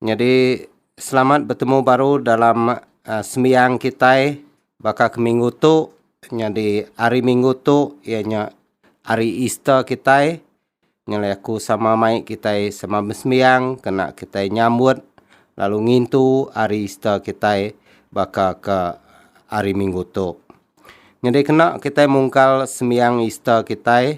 Nyadi selamat betemu baru dalam sembiang kitai baka ke minggu tu nyadi hari minggu tu iya nya hari Easter kitai nyelai aku sama mai kitai sama besembiang kena kitai nyambut lalu ngintu hari Easter kitai baka ke hari minggu tu. Nyadi kena kitai mungkal sembiang Easter kitai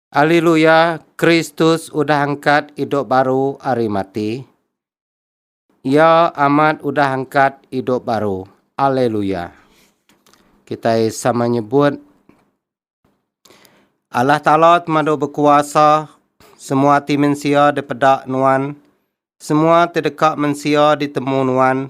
Aliluya, Kristus udah angkat idup baru ari mati. Iya amat udah angkat idup baru. Aliluya. Kitai sama nyebut Allah Taala temadu bekuasa semua ati mensia dipeda nuan semua ti deka mensia ditemu nuan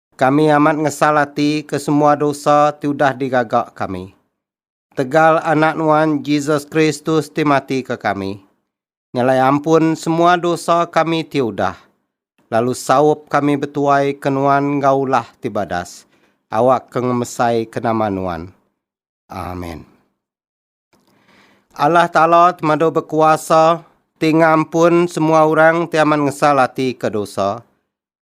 Kami amat ngesal ati ke semua dosa ti udah digaga kami. Tegal Anak Nuan, Jesus Kristus ti mati ke kami, nyelai ampun semua dosa kami ti udah, lalu saup kami betuai ke Nuan enggau ulah ti badas, awak ke ngemesai ke nama Nuan. Amen. Allah Taala Temadu Bekuasa ti ngampun semua orang ti amat ngesal ati ke dosa,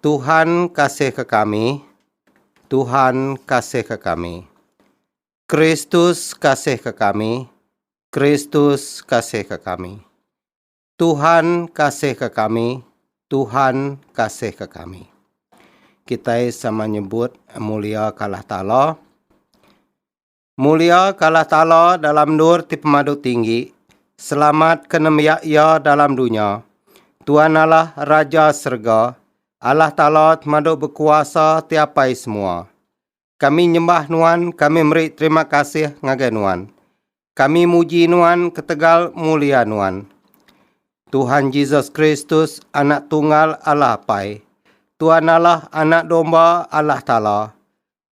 Tuhan kasihka kami, Tuhan kasihka kami. Kristus kasihka kami, Kristus kasihka kami. Tuhan kasihka kami, Tuhan kasihka kami. Kitai sama nyebut mulia kalah Taala. Mulia ka Allah Taala dalam endur ti pemadu tinggi, selamat ke nembiak Iya dalam dunya. Tuan Allah, Raja serega, Allah Taala temadu bekuasa ti apai semua. Kami nyembah Nuan, kami meri terima kasih ngagai Nuan. Kami muji Nuan ketegal mulia Nuan. Tuhan Jesus Kristus, Anak Tunggal Allah Apai. Tuan Allah, Anak Domba Allah Taala.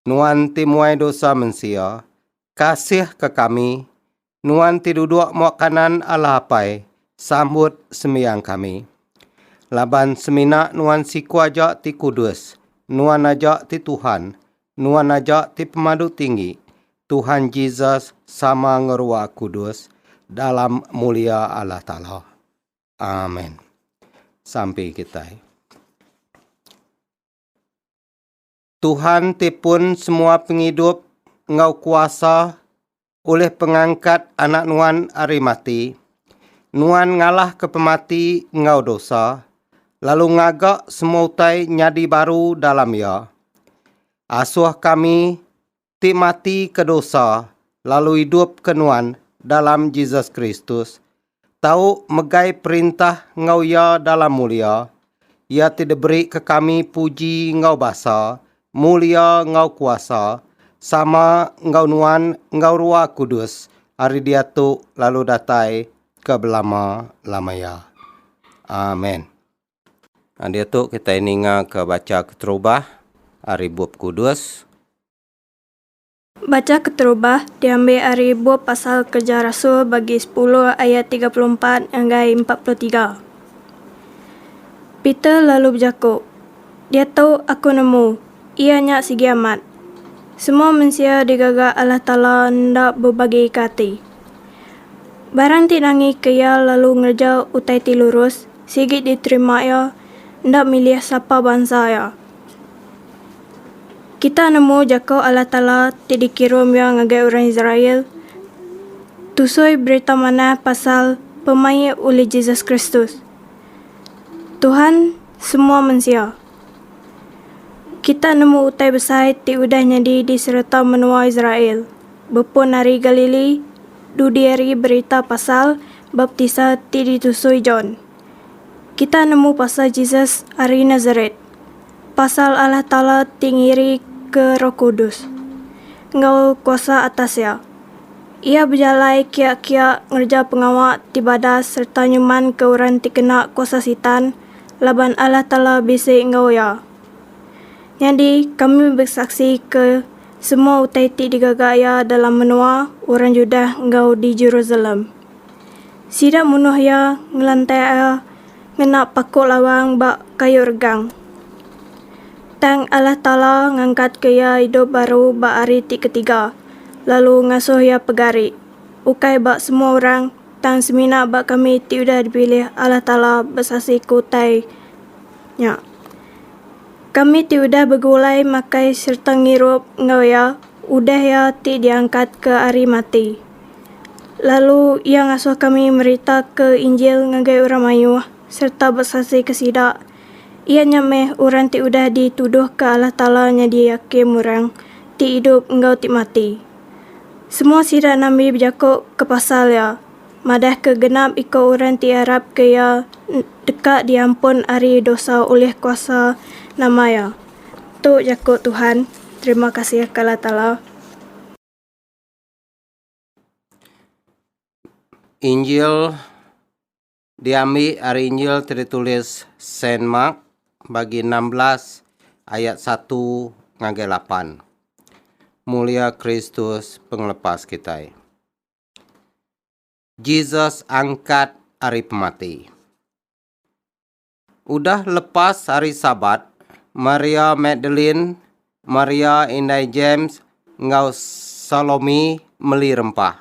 Nuan ti muai dosa mensia, kasihka kami, Nuan ti duduk muak kanan Allah Apai, sambut sembiang kami. Laban semina Nuan siku aja ti kudus, Nuan aja ti Tuhan, Nuan aja ti Pemadu Tinggi, Tuhan Jesus sama ngerua kudus dalam mulia Allah Taala. Amen. Sampi kitai. Tuhan ti pun semua pengidup enggau kuasa ulih pengangkat anak nuan ari mati. Nuan ngalahka pemati enggau dosa, lalu ngaga semua utai nyadi baru dalam iya. Asuh kami ti mati ke dosa lalu idup ke nuan dalam Jesus Kristus, tau megai perintah enggau Iya dalam mulia, Iya ti diberi ke kami puji enggau basa, mulia enggau kuasa, sama enggau nuan enggau Rua Kudus ari diatu lalu datai ke belama-lamaya. Amen. Diatu kitai ningaka bacha keterubah ari Bup Kudus. Bacha keterubah diambil ari bup Pasal Kereja Rasul bagi sepuluh ayat tiga puluh empat ngagai empat puluh tiga. Peter lalu bejaku, Diatu aku nemu, iya nya sigi amat. Semua mensia digaga Allah Taala enda bebagika ati. Barang ti nangika iya lalu ngereja utai ti lurus, Sigi diterima iya, enda milih sapa bansa iya. Kita nemu jaku Allah Taala ti dikirum Iya ngagai orang Israel tusoi Berita Manah pasal pemaik ulih Jesus Kristus, Tuhan semua mensia. Kita nemu utai besai ti udah nyadi di sereta menua Israel bepun ari Galili dudi ari berita pasal Baptisa ti ditusui John. Kita nemu pasal Jesus ari Nasaret, pasal Allah Taala ti ngirika Roh Kudus enggau kuasa atas iya. Iya bejalai kiya-kiya ngereja pengawa ti badas sereta nyumanka orang ti kena kuasa Sitan laban Allah Taala bisi enggau iya. Nyadi kami besaksi ke. Semua utai ti digaga iya dalam menua orang Judah enggau di Jerusalem. Sida munuh iya, ngelantai iya ngena paku lawang ba kayu regang. Tang Allah Taala ngangkatka iya idup baru ba hari ti ketiga, lalu ngasuh iya pegari, ukai ba semua orang, tang semina ba kami ti udah dipilih Allah Taala besasiku utai nya. Kami ti udah begulai makai sereta ngirup enggau iya udah iya ti diangkatka ari mati. Lalu iya ngasuh kami meritaka Injil ngagai orang mayuh sereta besasika sida. Iya nya meh orang ti udah dituduhka Allah Taala nyadi hakim orang ti idup enggau ti mati. Semua sida nabi bejako kepasal iya. madahka genap iku orang ti arapka iya deka diampun ari dosa ulih kuasa nama iya. Tu jaku Tuhan. Terima kasih ka Allah Taala. Injil diambi ari Injil ti ditulis Saint Mark bagi enam belas ayat satu ngagai lapan. Mulia Kristus Pengelepas kitai. Jesus angkat ari pemati. Udah lepas hari Sabat, Maria Magdalene, Maria indai James, enggau Salome meli rempah.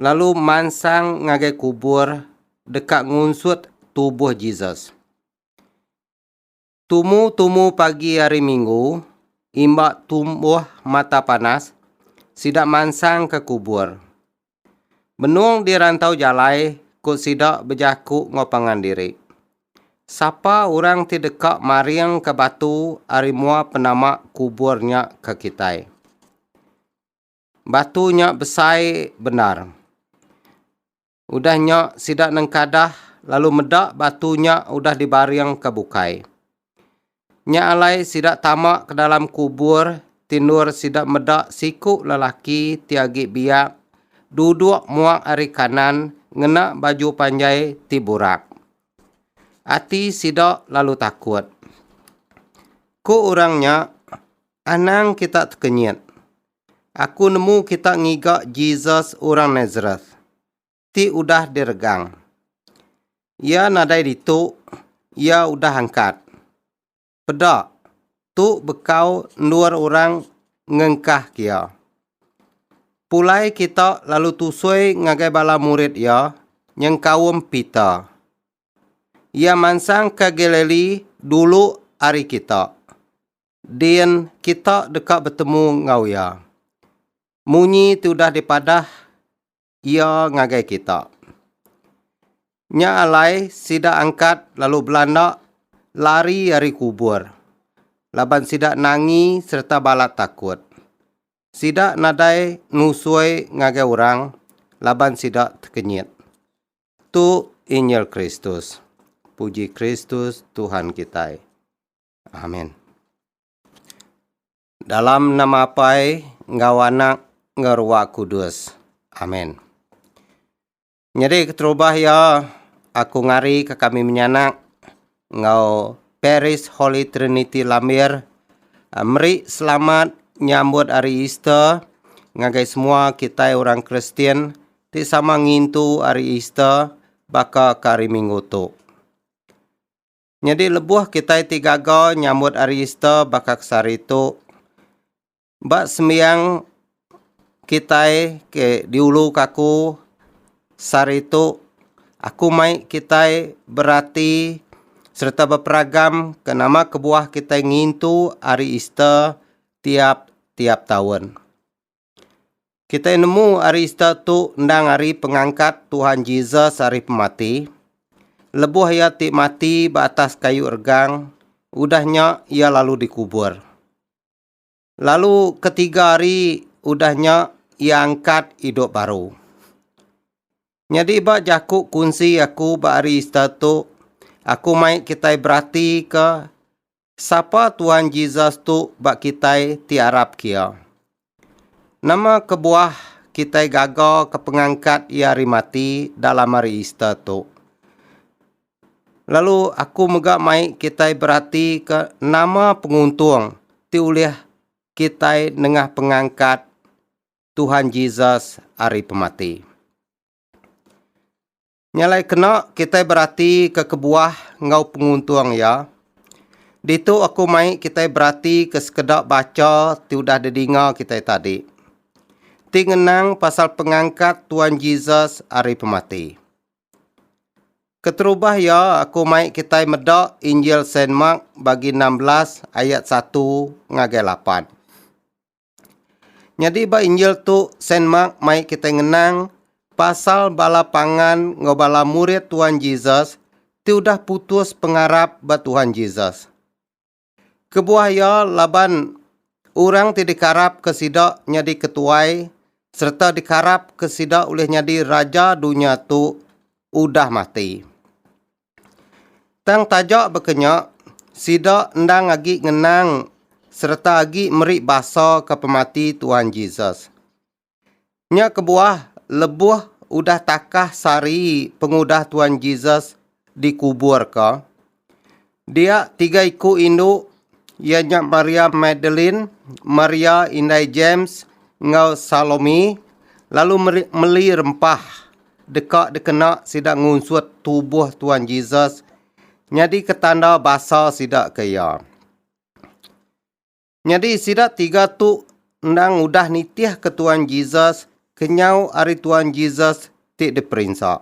Lalu mansang ngagai kubur deka ngunsut tubuh Jesus. Tumu-tumu pagi hari Minggu, imba tumbuh mata panas, sida mansang ke kubur. Benung di rantau jalai, ku sida bejaku enggau pangan diri. Sapa orang ti deka maringka batu ari mua penama kubur nya ke kitai? Batu nya besai bendar. Udah nya sida nengkadah lalu meda batu nya udah dibaringka bukai. Nya alai sida tama ke dalam kubur ti endur sida meda siku lelaki ti agi biak duduk muak ari kanan ngena baju panjai ti burak. Ati sida lalu takut. Ku orang nya, Anang kita tekenyit. Aku nemu kita ngiga Jesus orang Nazareth ti udah diregang. Iya nadai ditu, iya udah angkat. Peda, tu bekau endur orang ngengkah kia. Pulai kita lalu tusui ngagai bala murid iya nyengkaum Peter. Iya mansang ke Galilee dulu ari kita. Din kita deka betemu enggau iya. Munyi ti udah dipadah iya ngagai kita. Nya alai sida angkat lalu belanda lari ari kubur laban sida nangi sereta balat takut. Sida nadai nusoi ngagai orang laban sida tekenyit. Tu injil Kristus. Puji Kristus Tuhan kitai. Amen. Dalam nama Apai enggau Anak enggau Ruah Kudus. Amen. Nyadi keterubah iya, aku ngari ke kami menyanak enggau Paris Holy Trinity Lambir eh, meri selamat nyambut hari Easter ngagai semua kitai orang Kristian ti sama ngintu hari Easter baka ke hari Minggu tu. Nyadi lebuh kitai ti gaga nyambut Hari Easter baka ke sehari tu, ba sembiang kitai ke di ulu ke aku sehari tu, aku mai kitai berati sereta beperagam ke nama kebuah kitai ngintu Hari Easter tiap-tiap taun. Kitai nemu ari Easter tu endang ari pengangkat Tuhan Jesus ari pemati. Lebuh iya ti mati ba atas kayu regang, udah nya iya lalu dikubur. Lalu ketiga hari udah nya iya angkat idup baru. Nyadi ba jaku kunsi aku ba hari Easter tu, aku mai kitai beratika Sapa Tuan Jesus tu ba kitai ti arap ke Iya? Nama kebuah kitai gaga ke pengangkat Iya ari mati dalam hari Easter tu? Lalu aku mega mai kitai beratika nama penguntung ti ulih kitai nengah pengangkat Tuhan Jesus ari pemati. Nya alai kena kitai beratika kebuah enggau penguntung iya. Ditu aku mai kitai beratika sekeda bacha ti udah didinga kitai tadi, ti ngenang pasal pengangkat Tuan Jesus ari pemati. Keterubah iya, aku mai kitai meda Injil Saint Mark bagi enam belas ayat satu ngagai lapan. Nyadi ba injil tu Saint Mark mai kitai ngenang pasal bala pangan enggau bala murid Tuhan Jesus ti udah putus pengarap ba Tuhan Jesus. Kebuah iya laban orang ti dikarapka sida nyadi ketuai sereta dikarapka sida ulih nyadi raja dunya tu udah mati. Tang taja baka nya, sida endang agi ngenang sereta agi meri basa ke pemati Tuhan Jesus. Nya kebuah lebuh udah takah sehari pengudah Tuhan Jesus dikuburka, dia tiga iku indu iya nya Maria Magdalene, Maria indai Jems enggau Salome lalu meri meli rempah. Deka dikena sida ngunsut tubuh Tuan Jesus nyadika tanda basa sida ke iya. Nyadi sida tiga tu endang udah nitihka Tuan Jesus kenyau ari Tuan Jesus ti diperinsa.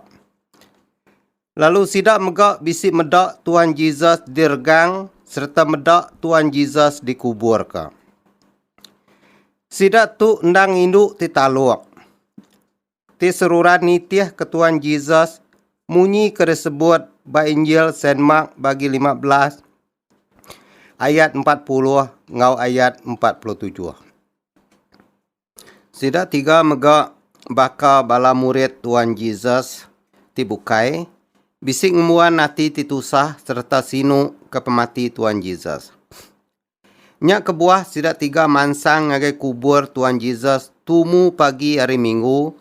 Lalu sida mega bisi meda Tuan Jesus diregang sereta meda Tuan Jesus dikuburka. Sida tu endang indu ti taluk. ti seruran nitih ke Tuan Jesus munyi ke disebut ba Injil Saint Mark bagi 15 ayat 40 enggau ayat 47. Sida tiga mega baka bala murid Tuan Jesus ti bukai bisi ngembuan ati ti tusah sereta sinu ke pemati Tuan Jesus. Nya kebuah sida tiga mansang ngagai kubur Tuan Jesus tumu pagi Hari Minggu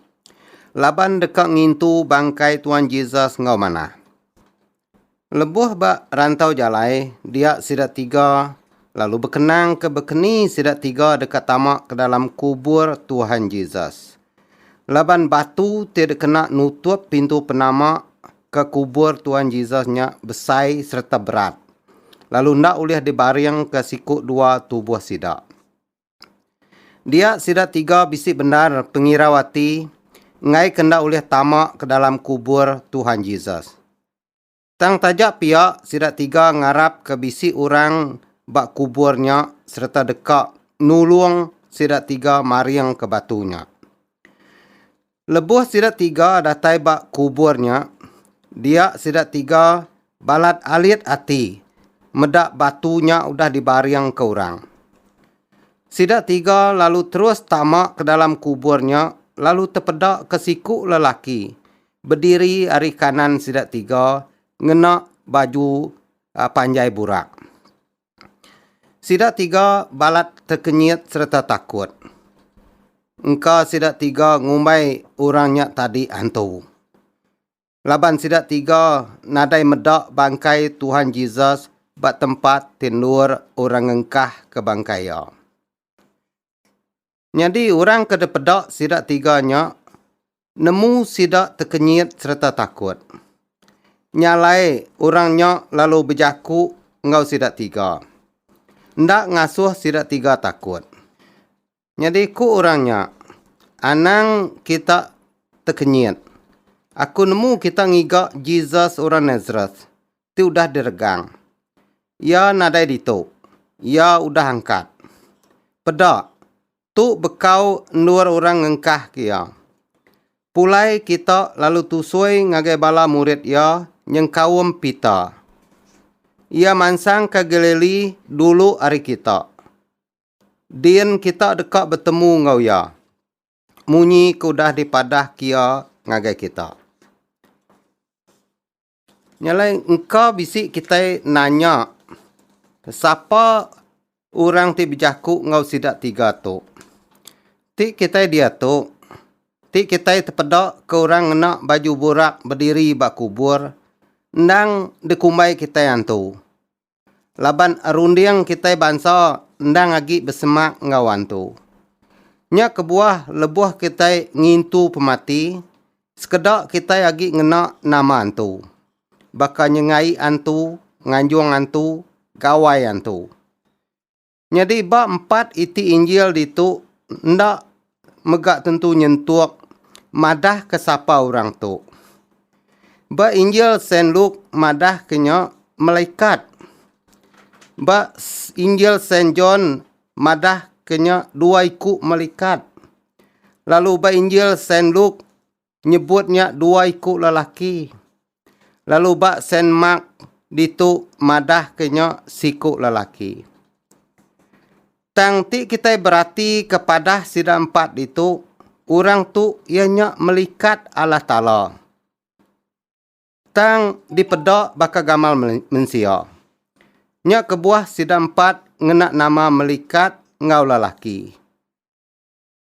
laban deka ngintu bangkai Tuan Jesus enggau manah. Lebuh ba rantau jalai dia sida tiga lalu bekenang ke bekeni sida tiga deka tama ke dalam kubur Tuan Jesus. Laban batu ti dikena nutup pintu penama ke kubur Tuan Jesus nya besai sereta berat, lalu enda ulih dibaringka siku dua tubuh sida. Dia sida tiga bisi bendar pengirau ati enggaika enda ulih tama ke dalam kubur Tuhan Jesus. Tang taja pia sida tiga ngarapka bisi orang ba kubur nya sereta deka nulung sida tiga maringka batu nya. Lebuh sida tiga datai ba kubur nya, dia sida tiga balat alit ati meda batu nya udah dibaringka orang. Sida tiga lalu terus tama ke dalam kubur nya lalu tepeda ke siku lelaki bediri ari kanan sida tiga ngena baju panjai burak. Sida tiga balat tekenyit sereta takut. Engka sida tiga ngumbai orang nya tadi hantu. Laban sida tiga nadai meda bangkai Tuhan Jesus ba tempat ti endur orang ngengkahka bangkai iya. Nyadi orang ke dipeda sida tiga nya nemu sida tekenyit sereta takut. Nya alai orang nya lalu bejaku enggau sida tiga. Enda ngasuh sida tiga takut. Nyadi ku orang nya, Anang kita tekenyit. Aku nemu kita ngiga Jesus orang Nazareth, ti udah diregang. Iya nadai ditu. Iya udah angkat. Peda, tu bekau endur orang ngengkahka iya. Pulai kita lalu tusui ngagai bala murid iya nyengkaum Peter. Iya mansang ka Galili dulu ari kita. Din kita deka betemu enggau iya, munyi ke udah dipadahka iya ngagai kita. Nya alai engka bisi kitai nanya sapa orang ti bejaku enggau sida tiga tu. Ti kitai diatu, ti kitai tepeda ke orang ngena baju burak bediri ba kubur endang dikumbai kitai antu. laban runding kitai bansa endang agi besemak enggau antu. Nya kebuah lebuh kitai ngintu pemati, sekeda kitai agi ngena nama antu, baka nyengai antu, nganjung antu, gawai antu. Nyadi ba empat iti Injil ditu enda mega tentu nyentuk madahka sapa orang tu. Ba Injil Saint Luke madahka nya malaikat. Ba Injil Saint John madahka nya dua iku malaikat. Lalu ba Injil Saint Luke nyebut nya dua iku lelaki lalu ba Saint Mark ditu madahka nya siku lelaki. Tang ti kitai beratika padah sida empat ditu, orang tu iya nya melikat Allah Taala. Tang dipeda baka gamal men- mensia. Nya kebuah sida empat ngena nama melikat enggau lelaki.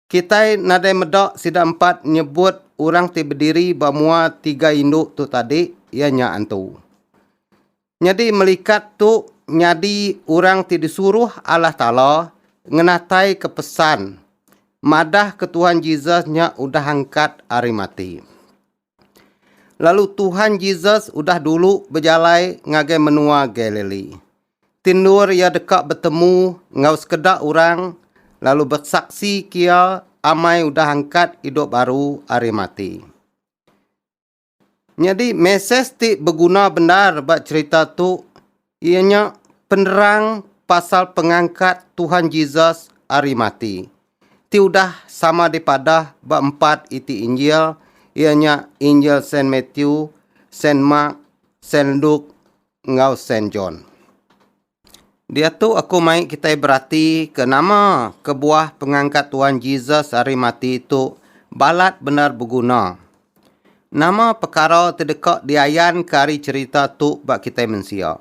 Kitai nadai meda sida empat nyebut orang ti bediri ba mua tiga indu tu tadi iya nya antu. Nyadi melikat tu nyadi orang ti disuruh Allah Taala ngenataika pesan madahka Tuhan Jesus nya udah angkat ari mati. Lalu Tuhan Jesus udah dulu bejalai ngagai menua Galili. Ti endur iya deka betemu enggau sekeda orang lalu besaksi ke iya amai udah angkat idup baru ari mati. Nyadi mesej ti beguna bendar ba cherita tu Iya nya penerang pasal pengangkat Tuhan Jesus ari mati, ti udah sama dipadah ba empat iti Injil, iya nya Injil Saint Matthew, Saint Mark, Saint Luke, enggau Saint John. Diatu aku mai kitai berati ke nama kebuah pengangkat Tuhan Jesus ari mati tu balat bendar beguna. Nama pekara ti deka diayanka ari cherita tu ba kitai mensia?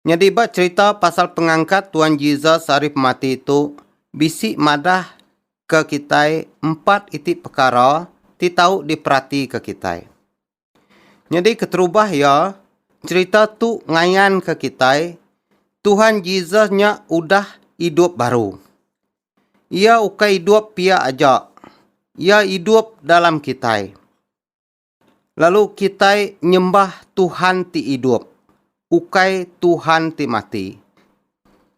Nyadi ba cherita pasal pengangkat Tuan Jesus ari pemati tu bisi madahka kitai empat iti pekara ti tau diperatika kitai. Nyadi keterubah iya, cherita tu ngayanka kitai Tuhan Jesus nya udah idup baru. Iya ukai idup pia aja. Iya idup dalam kitai. Lalu kitai nyembah Tuhan ti idup, ukai Tuhan ti mati.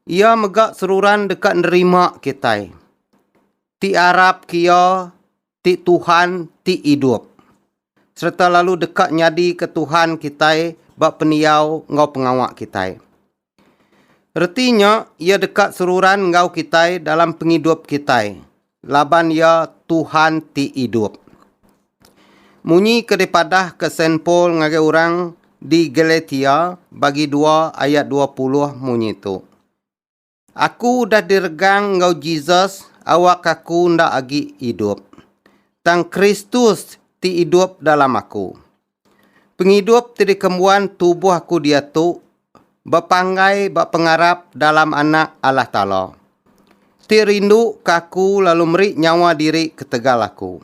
Iya mega seruran deka nerima kitai. Ti arap ke iya ti Tuhan ti idup, sereta lalu deka nyadika Tuhan kitai ba pendiau enggau pengawa kitai. Reti nya Iya deka seruran enggau kitai dalam pengidup kitai, laban Iya Tuhan ti idup. Munyi ke dipadahka Saint Paul ngagai orang di Galatia bagi dua ayat dua puluh munyi tu. Aku udah diregang enggau Jesus awak aku enda agi idup. Tang Kristus ti idup dalam aku. Pengidup ti dikembuan tubuh aku diatu bepanggai ba pengarap dalam Anak Allah Taala, ti rinduka aku lalu meri nyawa diri ketegal aku.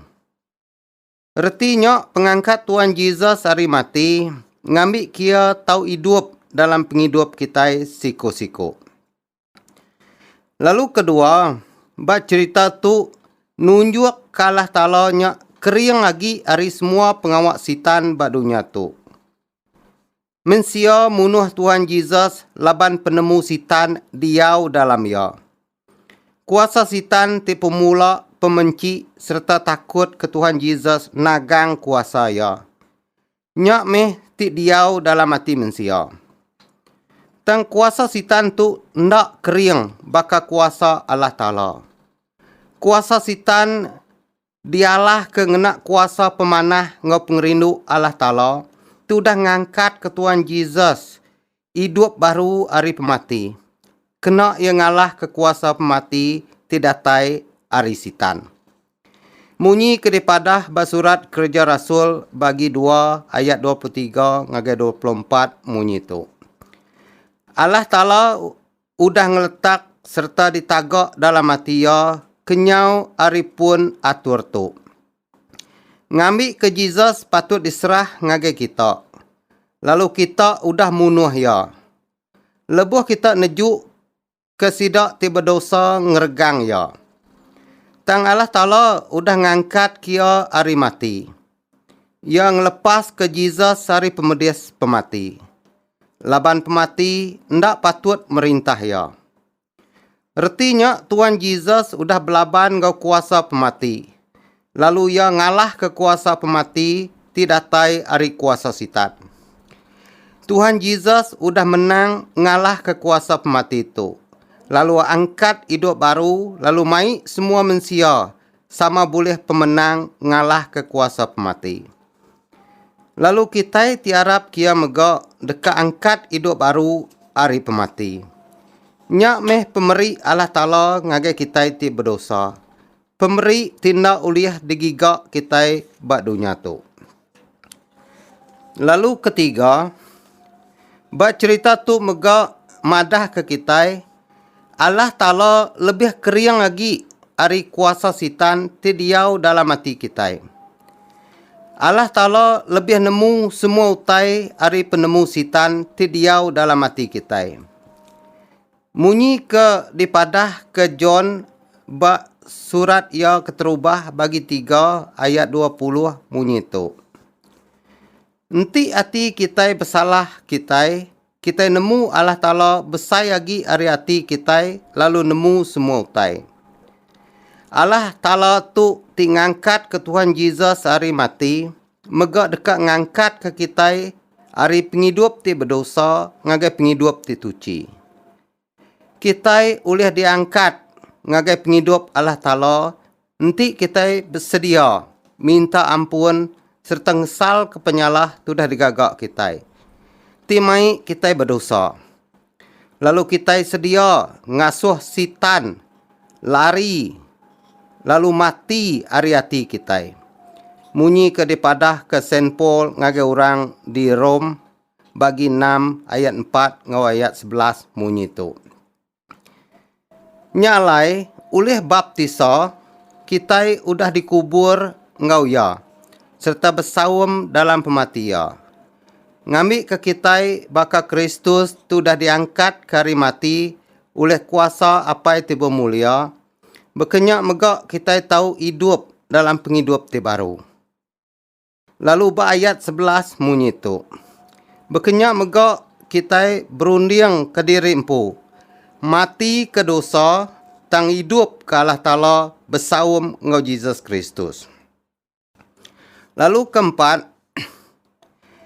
Reti nya pengangkat Tuan Jesus ari mati ngambi kia tau idup dalam pengidup kitai siku-siku. Lalu kedua, ba cherita tu nunjuk ka Allah Taala nya kering agi ari semua pengawa Sitan ba dunya tu. Mensia munuh Tuhan Jesus laban penemu Sitan diau dalam iya. Kuasa Sitan ti pemula pemenchi sereta takut ke Tuhan Jesus nagang kuasa iya. Nya meh ti diau dalam ati mensia. Tang kuasa Sitan tu enda kering baka kuasa Allah Taala. Kuasa Sitan Dialah ke ngena kuasa pemanah enggau pengerindu Allah Taala ti udah ngangkatka Tuan Jesus idup baru ari pemati, kena iya ngalahka kuasa pemati ti datai ari Sitan. Munyi ke dipadah ba surat Kereja Rasul bagi dua ayat dua puluh tiga ngagai dua puluh empat munyi tu, Allah Taala udah ngeletak sereta ditaga dalam ati iya kenyau ari pun atur tu. Ngambika Jesus patut diserah ngagai kita, lalu kita udah munuh iya. Lebuh kita nejuka sida ti bedosa ngeregang iya. Tang Allah Taala udah ngangkatka iya ari mati. Iya ngelepaska Jesus ari pemedis pemati. laban pemati enda patut merintah iya. Reti nya Tuan Jesus udah belaban enggau kuasa pemati, lalu iya ngalahka kuasa pemati ti datai ari kuasa Sitan. Tuhan Jesus udah menang ngalahka kuasa pemati tu, lalu angkat idup baru lalu mai semua mensia sama bulih pemenang ngalahka kuasa pemati. Lalu kitai ti arap kia mega deka angkat idup baru ari pemati. Nya meh pemeri Allah Taala ngagai kitai ti bedosa, pemeri ti enda ulih digiga kitai ba dunya tu. Lalu ketiga, ba cherita tu mega madahka kitai Allah Taala lebih kering agi ari kuasa Sitan ti diau dalam ati kitai. Allah Taala lebih nemu semua utai ari penemu Sitan ti diau dalam ati kitai. Munyi ke dipadahka John ba surat iya keterubah bagi tiga ayat dua puluh munyi tu. Enti ati kitai besalah kitai, kitai nemu Allah Taala besai agi ari ati kitai lalu nemu semua utai. Allah Taala tu ti ngangkatka Tuhan Jesus ari mati mega deka ngangkatka kitai ari pengidup ti bedosa ngagai pengidup ti tuchi. Kitai ulih diangkat ngagai pengidup Allah Taala enti kitai besedia minta ampun sereta ngesalka penyalah ti udah digaga kitai. Ti mai kitai bedosa, lalu kitai sedia ngasuh Sitan lari lalu mati ari ati kitai. Munyi ke dipadahka Saint Paul ngagai orang di Rome. bagi enam ayat empat enggau ayat sebelas munyi tu. Nya alai, ulih baptisa, kitai udah dikubur enggau iya sereta besaum dalam pemati iya. Ngambika kitai baka Kristus ti udah diangkatka ari mati ulih kuasa Apai ti bemulia, baka nya mega kitai tau idup dalam pengidup ti baru. Lalu ba ayat sebelas munyi tu. Bekenya mega kitai berunding kediri empu, mati ke dosa tang idup ke Allah Taala besaum enggau Jesus Kristus. Lalu ke empat,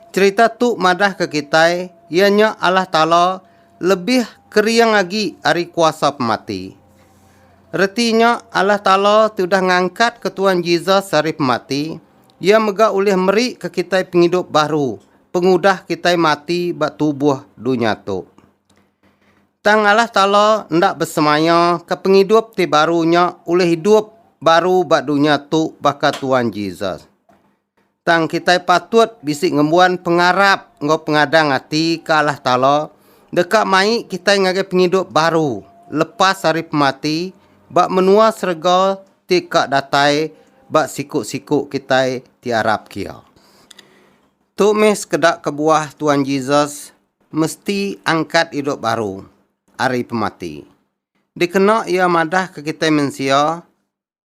cherita tu madah ke kitai iya nya Allah Taala lebih kering agi ari kuasa pemati. Reti nya Allah Taala tudah ngangkat ke Tuan Jesus ari pemati, Iya mega ulih meri ke kitai pengidup baru pengudah kitai mati ba tubuh dunya tu. Tang Allah Taala enda besemaya ke pengidup ti baru nya ulih idup baru ba dunya tu baka Tuan Jesus. Tang kitai patut bisi ngembuan pengarap enggau pengadang ati ke Allah Taala deka mai kitai ngagai pengidup baru lepas ari pemati ba menua serega ti ka datai ba siku-siku kitai ti arap kia. Tu meh sekeda kebuah Tuan Jesus mesti angkat idup baru ari pemati. Dikena iya madah ke kitai mensia,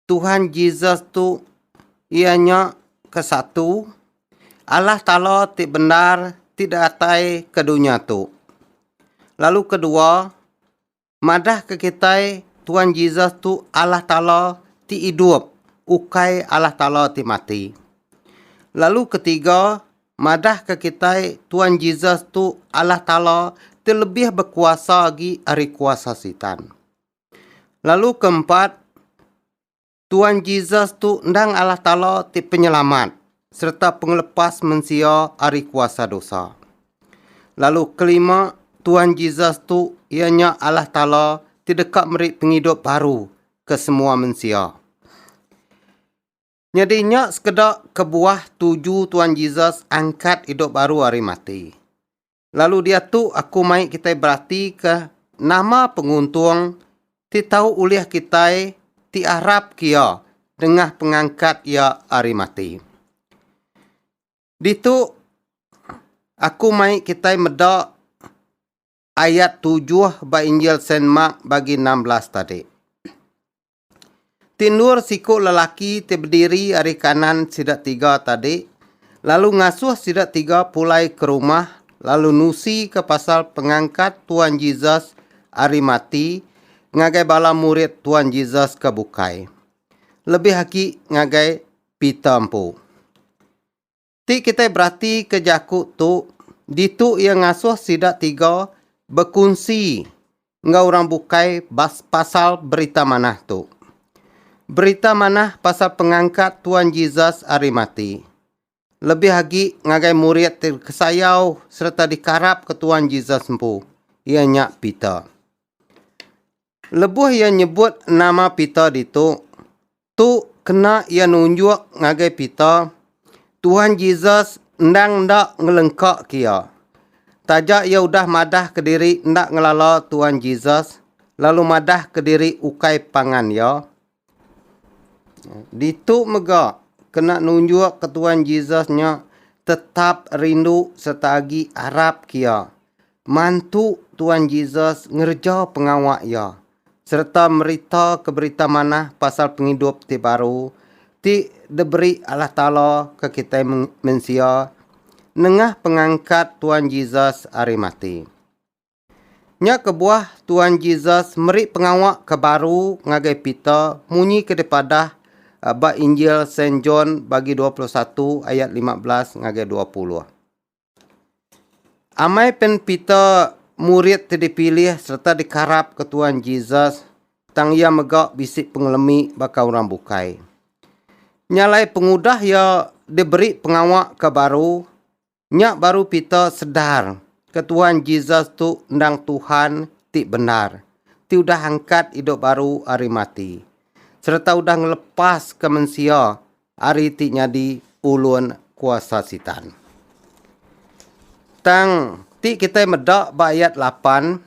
Tuhan Jesus tu iya nya ke satu Allah Taala ti bendar ti datai ke dunya tu. Lalu kedua, Madahka kitai Tuan Jesus tu Allah Taala ti idup, ukai Allah Taala ti mati. Lalu ketiga, madahka kitai Tuan Jesus tu Allah Taala ti lebih bekuasa agi ari kuasa Sitan. Lalu keempat, Tuan Jesus tu endang Allah Taala ti Penyelamat sereta Pengelepas mensia ari kuasa dosa. Lalu kelima, Tuan Jesus tu iya nya Allah Taala ti deka meri pengidup baru ke semua mensia. Nyadi nya sekeda kebuah tuju Tuan Jesus angkat idup baru ari mati. Lalu diatu aku mai kitai beratika nama penguntung ti tau ulih kitai ti arap ke iya nengah pengangkat iya ari mati. Ditu aku mai kitai meda ayat tujuh ba Injil Saint Mark bagi enam belas tadi. Ti endur siku lelaki ti bediri ari kanan sida tiga tadi lalu ngasuh sida tiga pulai ke rumah lalu nusika pasal pengangkat Tuan Jesus ari mati ngagai bala murid Tuan Jesus ke bukai, lebih agi ngagai Peter empu. Ti kitai beratika jaku tu ditu iya ngasuh sida tiga bekunsi enggau orang bukai bas pasal berita manah tu. Berita manah pasal pengangkat Tuan Jesus ari mati. Lebih agi ngagai murid ti kesayau sereta dikarapka Tuan Jesus empu, iya nya Peter. Lebuh iya nyebut nama Peter ditu, Tu kena iya nunjuk ngagai Peter, Tuhan Jesus endang enda ngelengkaka iya. Taja iya udah madahka diri enda ngelala Tuhan Jesus, lalu madahka diri ukai pangan Iya. Ditu mega kena nunjukka Tuhan Jesus nya tetap rindu sereta agi arapka Iya. Mantu Tuhan Jesus ngereja pengawa Iya. sereta meritaka berita manah pasal pengidup ti baru ti diberi Allah Taala ke kitai mensia nengah pengangkat Tuan Jesus ari mati. Nya kebuah Tuan Jesus meri pengawa ke baru ngagai Peter munyi ke dipadah ba Injil Saint John bagi 21 ayat 15 ngagai 20. Amai pen Peter murid ti dipilih sereta dikarap ke Tuan Jesus tang iya mega bisi pengelemi baka orang bukai. Nya alai pengudah iya diberi pengawa ke baru, nya baru Peter sedar ke Tuan Jesus tu endang Tuhan ti bendar ti udah angkat idup baru ari mati sereta udah ngelepaska mensia Ari ti nyadi ulun kuasa Sitan. Tang ti kitai meda ba ayat lapan,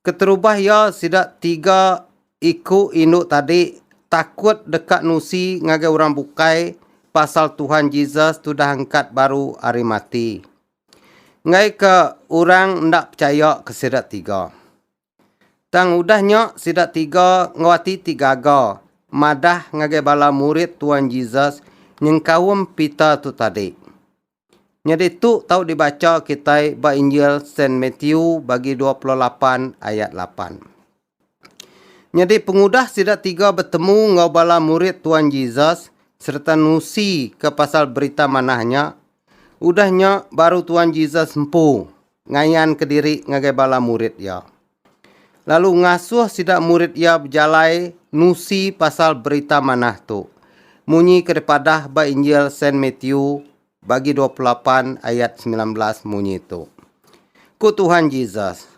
keterubah iya sida tiga iku indu tadi takut deka nusi ngagai orang bukai pasal Tuhan Jesus tudah angkat baru ari mati. Enggaika orang enda pechaya ke sida tiga. Tang udah nya sida tiga enggau ati ti gaga madah ngagai bala murid Tuan Jesus nyengkaum Peter tu tadi. Nyadi tu tau dibacha kitai ba Injil Saint Matthew bagi dua puluh lapan ayat lapan. Nyadi pengudah sida tiga betemu enggau bala murid Tuan Jesus sereta nusi ke pasal Berita Manah nya, udah nya baru Tuan Jesus empu ngayanka diri ngagai bala murid iya, lalu ngasuh sida murid iya bejalai nusi pasal Berita Manah tu, munyi ke dipadah ba Injil Saint Matthew bagi dua puluh lapan ayat semilan belas munyi tu. Ku Tuhan Jesus,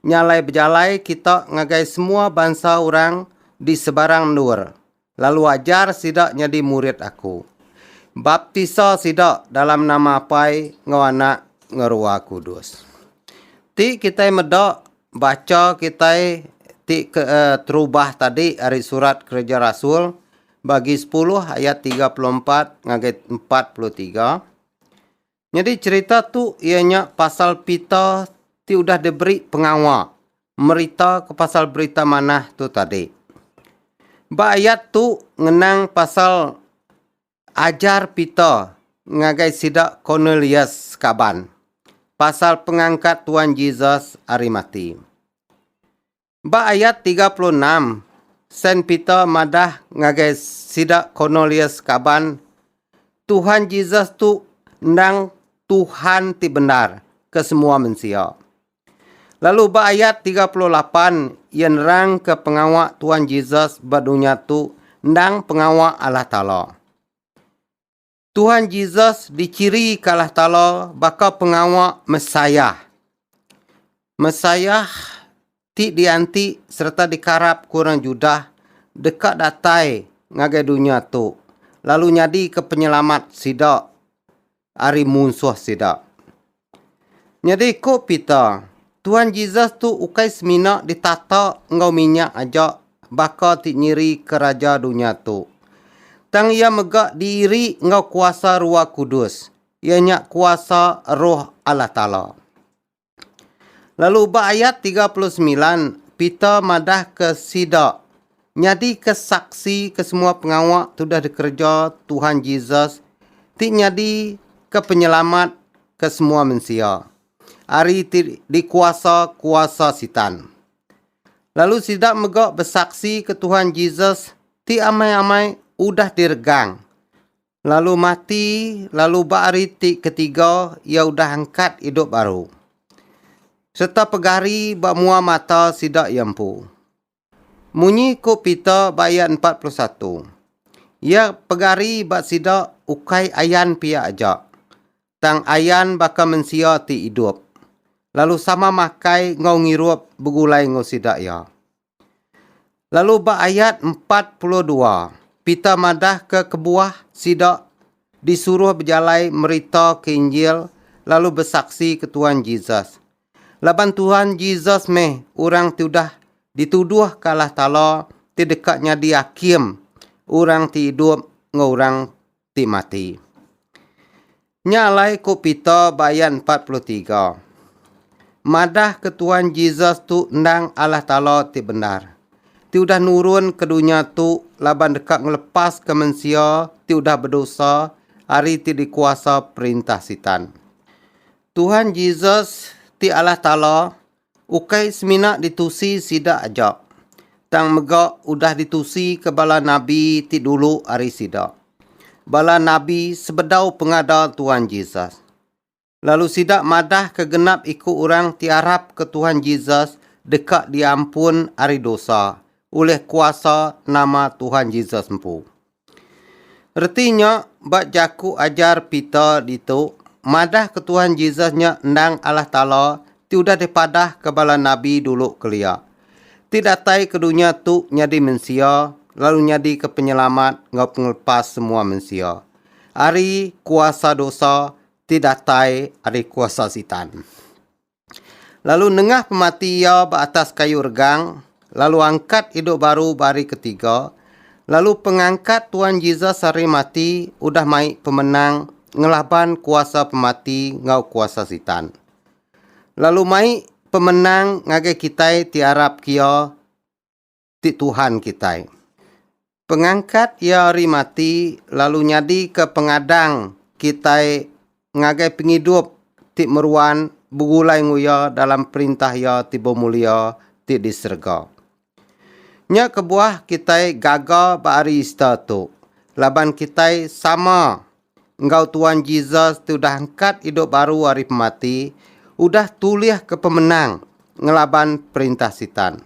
Nya alai bejalai kita ngagai semua bansa orang di sebarang endur, Lalu ajar sida nyadi murid Aku. Baptisa sida dalam nama Apai enggau Anak enggau Rua Kudus. Ti kitai meda bacha kitai ti ke terubah tadi ari Surat Kereja Rasul bagi sepuluh ayat tiga puluh empat ngagai empat puluh tiga, Nyadi cherita tu iya nya pasal Peter ti udah diberi pengawa meritaka pasal Berita Manah tu tadi. Ba ayat tu ngenang pasal ajar Peter ngagai sida Cornelius sekaban pasal pengangkat Tuan Jesus ari mati. Ba ayat tiga puluh enam, Saint Peter madah ngagai sida Cornelius kaban, Tuhan Jesus tu endang Tuhan ti bendar ke semua mensia. Lalu ba ayat tiga puluh lapan, iya nerangka pengawa Tuhan Jesus ba dunya tu endang pengawa Allah Taala. Tuhan Jesus dichiri kalah tala baka pengawa Messiah. Messiah ti dianti sereta dikarap ku orang Judah deka datai ngagai dunya tu lalu nyadika penyelamat sida ari munsuh sida. Nyadi ku Peter, Tuhan Jesus tu ukai semina ditata enggau minyak aja baka ti nyirika raja dunya tu. Tang iya mega diiri enggau kuasa Rua Kudus, iya nya kuasa Roh Allah Taala. Lalu ba ayat 39, Peter madahka sida Nyadika saksi ke semua pengawa tudah dikereja Tuhan Jesus ti nyadika penyelamat ke semua mensia ari ti dikuasa kuasa Sitan. Lalu sida mega besaksi ke Tuhan Jesus ti amai-amai udah diregang lalu mati lalu ba hari ti ketiga iya udah angkat idup baru sereta pegari ba mua mata sida iya empu. Munyi ku Peter ba ayat empat puluh satu, Iya pegari ba sida ukai ayan pia aja, tang ayan baka mensia ti idup, lalu sama makai enggau ngirup begulai enggau sida iya. Lalu ba ayat empat puluh dua, Peter madahka kebuah sida disuruh bejalai merita ke Injil lalu besaksi ke Tuan Jesus. Laban Tuhan Jesus meh orang ti udah dituduh ke alah tala ti deka nyadi akim orang ti idup enggau orang ti mati. Nya alai ku Peter ba ayat empat puluh tiga. Madah ke Tuhan Jesus tu endang alah tala ti bendar, ti udah nurun ke dunya tu laban deka ngelepas ke mensia ti udah bedosa ari ti dikuasa perintah Sitan. Tuhan Jesus ti Allah Taala ukai semina ditusi sida aja, tang mega udah ditusika bala nabi ti dulu ari sida. Bala nabi sebedau pengada Tuhan Jesus. Lalu sida madahka genap iku orang ti arapka Tuhan Jesus deka diampun ari dosa ulih kuasa nama Tuhan Jesus empu. Reti nya ba jaku ajar Peter ditu madahka Tuhan Jesus nya endang Allah Taala ti udah dipadahka bala nabi dulu kelia, ti datai ke dunya tu nyadi mensia lalu nyadika Penyelamat enggau Pengelepas semua mensia ari kuasa dosa ti datai ari kuasa Sitan. Lalu nengah pemati iya ba atas kayu regang, lalu angkat idup baru ba hari ketiga, lalu pengangkat Tuan Jesus ari mati udah mai pemenang ngelaban kuasa pemati enggau kuasa Sitan. Lalu mai pemenang ngagai kitai ti arap kiya ti Tuhan kitai. Pengangkat Iya ari mati lalu nyadika pengadang kitai ngagai pengidup ti meruan begulai enggau Iya dalam Perintah Iya ti bemulia ti di serega. Nya kebuah kitai gaga ba hari Easter tu laban kitai sama enggau Tuan Jesus ti udah angkat idup baru ari pemati, udah tulihka pemenang ngelaban perintah Sitan.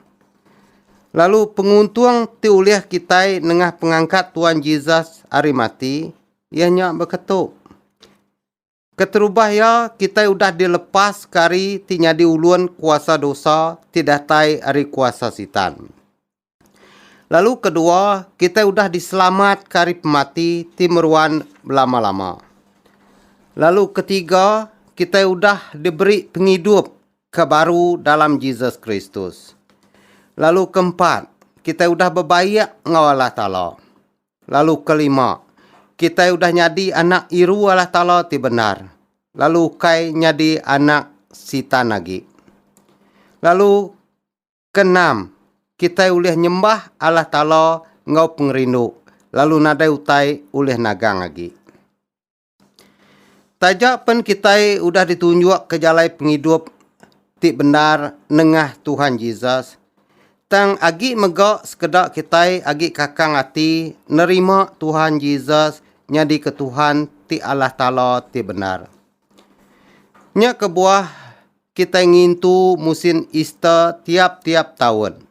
Lalu penguntung ti ulih kitai nengah pengangkat Tuan Jesus ari mati, iya nya baka tu. Keterubah iya, kitai udah dilepaska ari ti nyadi ulun kuasa dosa ti datai ari kuasa Sitan. Lalu kedua, kitai udah diselamatka ari pemati ti meruan belama-lama. Lalu ketiga, kitai udah diberi pengidup ke baru dalam Jesus Kristus. Lalu keempat, kitai udah bebaik enggau Allah Taala. Lalu kelima, kitai udah nyadi anak iru Allah Taala ti bendar, lalu ukai nyadi anak Sitan agi. Lalu Keenam, kitai ulih nyembah Allah Taala enggau pengerindu lalu nadai utai ulih nagang agi. Taja pen kitai udah ditunjukka jalai pengidup ti bendar nengah Tuhan Jesus, tang agi mega sekeda kitai agi kakang ati nerima Tuhan Jesus nyadika Tuhan ti Allah Taala ti bendar. Nya kebuah kitai ngintu musin Easter tiap-tiap taun.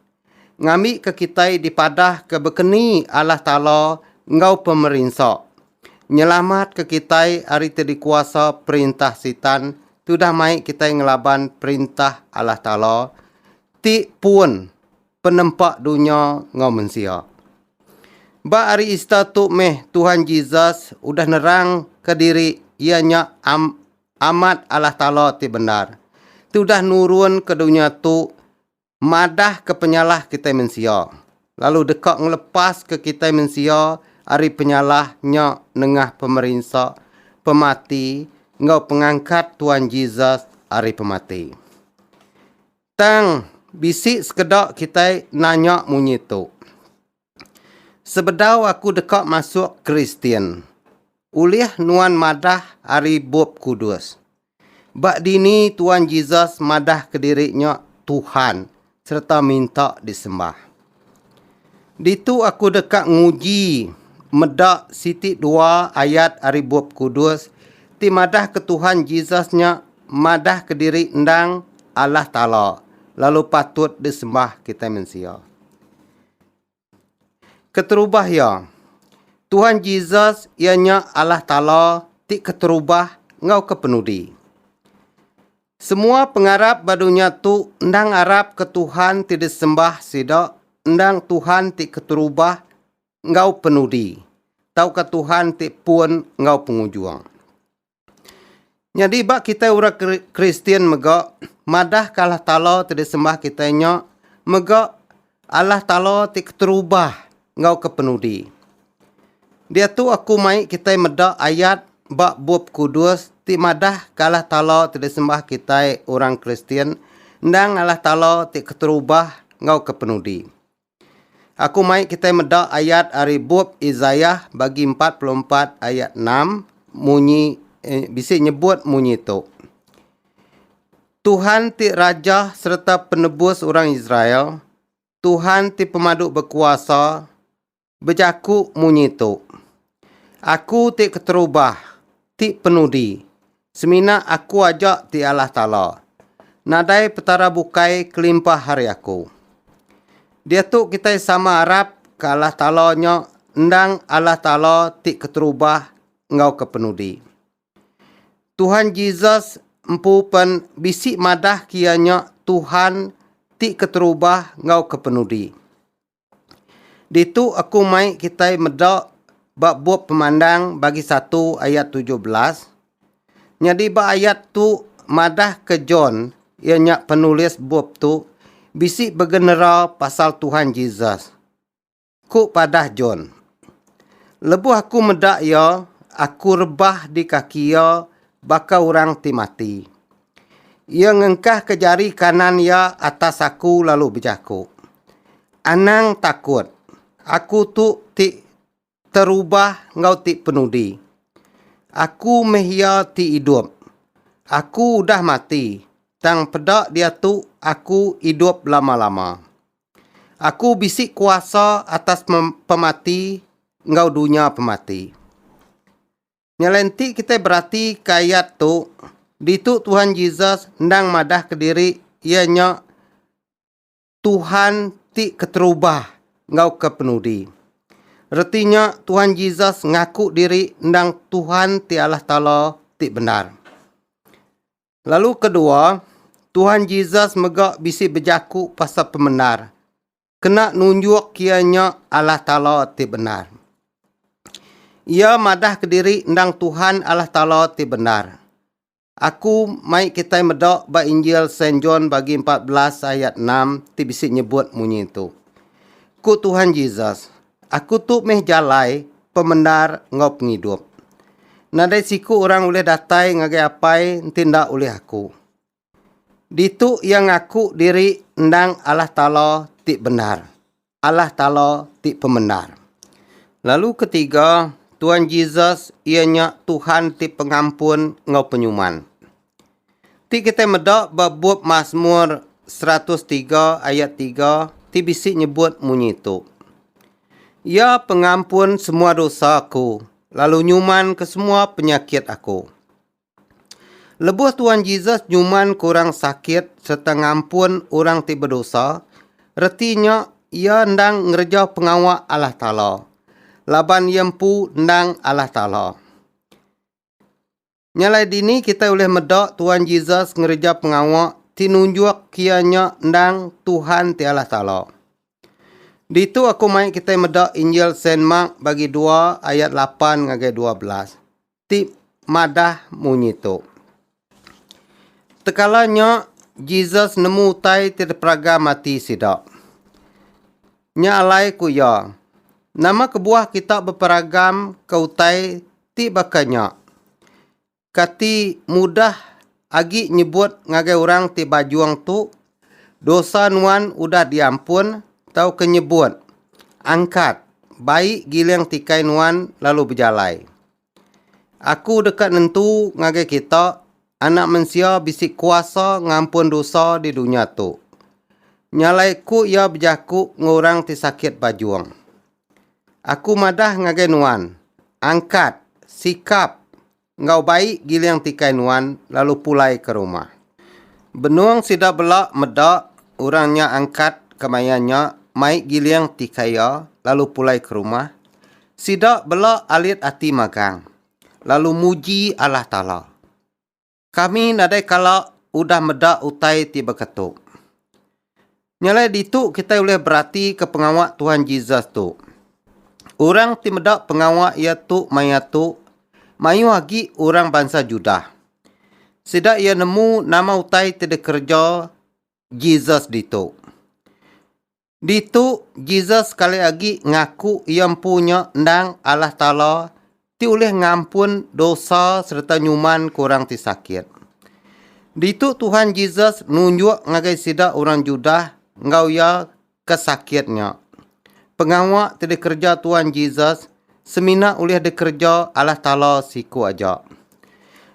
Ngambika kitai dipadahka bekeni Allah Taala enggau pemerinsa, nyelamatka kitai ari ti dikuasa perintah Sitan tudah mai kitai ngelaban Perintah Allah Taala ti pun penempa dunya enggau mensia. Ba hari Easter tu meh Tuhan Jesus udah nerangka diri iya nya Amat Allah Taala ti bendar, ti udah nurun ke dunya tu madah ke penyalah kitai mensia, lalu deka ngelepas ke kitai mensia ari penyalah nya nengah pemerinsa, pemati enggau pengangkat Tuan Jesus ari pemati. Tang, bisi sekeda kitai nanya munyi tu. Sebedau aku deka masuk Kristian, ulih nuan madah ari Bup Kudus? Ba dini Tuan Jesus madahka diri nya Tuhan sereta minta disembah? Ditu aku deka nguji meda siti dua ayat ari Bup Kudus ti madahka Tuhan Jesus nya madahka diri endang Allah Taala lalu patut disembah kitai mensia. Keterubah iya. Tuhan Jesus iya nya Allah Taala ti keterubah enggau ke penudi. Semua pengarap ba dunya tu endang arap ke Tuhan ti disembah sida endang Tuhan ti keterubah enggau penudi tauka Tuhan ti pun enggau pengujung. Nyadi ba kitai orang Kristian mega madah ke Allah Taala ti disembah kitai nya mega Allah Taala ti keterubah enggau ke penudi. Diatu aku mai kitai meda ayat ba Bup Kudus ti madah ke Allah Taala ti disembah kitai orang Kristian endang Allah Taala ti keterubah enggau ke penudi. Aku mai kitai meda ayat ari bup Isaiah bagi 44 ayat 6 munyi eh, bisi nyebut munyi tu. Tuhan ti raja sereta penebus orang Israel, Tuhan ti pemadu berkuasa, bejaku munyi tu. Aku ti keterubah, ti penudi, Semina aku aja ti alah tala. Nadai Petara bukai kelimpah ari aku. Diatu kitai sama arap ke alah tala nya endang alah tala ti keterubah enggau ke penudi. Tuhan Jesus empu pen bisi madahka iya nya Tuhan ti keterubah enggau ke penudi. Ditu aku mai kitai meda ba bup pemandang bagi satu ayat tujuh belas. Nyadi ba ayat tu madah ke John iya nya penulis bup tu bisi begenera pasal Tuhan Jesus. Ku padah John. Lebuh aku meda iya aku rebah di kaki iya baka orang ti mati. Iya ngengkahka jari kanan iya atas aku lalu bejaku, Anang takut! Aku tu ti terubah enggau ti penudi. Aku meh iya ti idup. Aku udah mati, tang peda diatu aku idup lama-lama. Aku bisi kuasa atas pemati enggau dunya pemati. Nya alai enti kitai beratika ayat tu, ditu Tuhan Jesus endang madah kediri iya nya Tuhan ti keterubah enggau ke penudi. Reti nya Tuhan Jesus ngaku diri endang Tuhan ti Allah Taala ti bendar. Lalu kedua, Tuhan Jesus mega bisi bejaku pasal pemendar. kena nunjuk iya nya Allah Taala ti bendar. Iya madah kediri endang Tuhan Allah Taala ti bendar. Aku mai kitai meda ba Injil Saint John bagi empat belas ayat enam ti bisi nyebut munyi tu. Ku Tuhan Jesus, Aku tu meh jalai, pemendar enggau pengidup. Nadai siku orang ulih datai ngagai Apai enti enda ulih Aku. Ditu iya ngaku diri endang Allah Taala ti bendar, Allah Taala ti pemendar. Lalu ketiga, Tuan Jesus iya nya Tuhan ti pengampun enggau penyuman. Ti kitai meda ba bup Masmur 103 ayat 3 ti bisi nyebut munyi tu, Iya pengampun semua dosa aku lalu nyuman ke semua penyakit aku. Lebuh Tuan Jesus nyuman ke orang sakit sereta ngampun orang ti bedosa, reti nya iya endang ngereja pengawa Allah Taala, laban iya empu endang Allah Taala. Nya alai dini kitai ulih meda Tuan Jesus ngereja pengawa ti nunjuk iya nya endang Tuhan ti Allah Taala. Ditu aku mai kitai meda Injil Saint Mark bagi dua ayat lapan ngagai dua belas. ti madah munyi tu. Tekala nya, Jesus nemu utai ti diperaga mati sida. Nya alai ku iya, Nama kebuah kita beperagaka utai ti baka nya? Kati mudah Agi nyebut ngagai orang ti bajung tu, Dosa nuan udah diampun, tauka nyebut, Angkat, bai giling tikai nuan lalu bejalai. Aku deka nentu ngagai kita, Anak Mensia bisi kuasa ngampun dosa di dunya tu. Nyalaiku iya bejaku enggau orang ti sakit bajung. Aku madah ngagai nuan, Angkat, sikap! Enggau bai giling tikai nuan lalu pulai ke rumah. Benung sida bela meda orang nya angkat kemaya nya mai giling tikai iya lalu pulai ke rumah, sida bela alit ati magang lalu muji Allah Taala. Kami nadai kala udah meda utai ti beketup. Nya alai ditu kitai ulih beratika pengawa Tuhan Jesus tu. Orang ti meda pengawa iya tu maya tu mayuh agi orang bansa Judah. Sida iya nemu nama utai ti dikereja Jesus ditu. Ditu Jesus sekali agi ngaku iya empu nya endang Allah Taala ti ulih ngampun dosa sereta nyumanka orang ti sakit. Ditu Tuhan Jesus nunjuk ngagai sida orang Judah enggau iya ke sakit nya. Pengawa ti dikereja Tuhan Jesus semina ulih dikereja Allah Taala siku aja.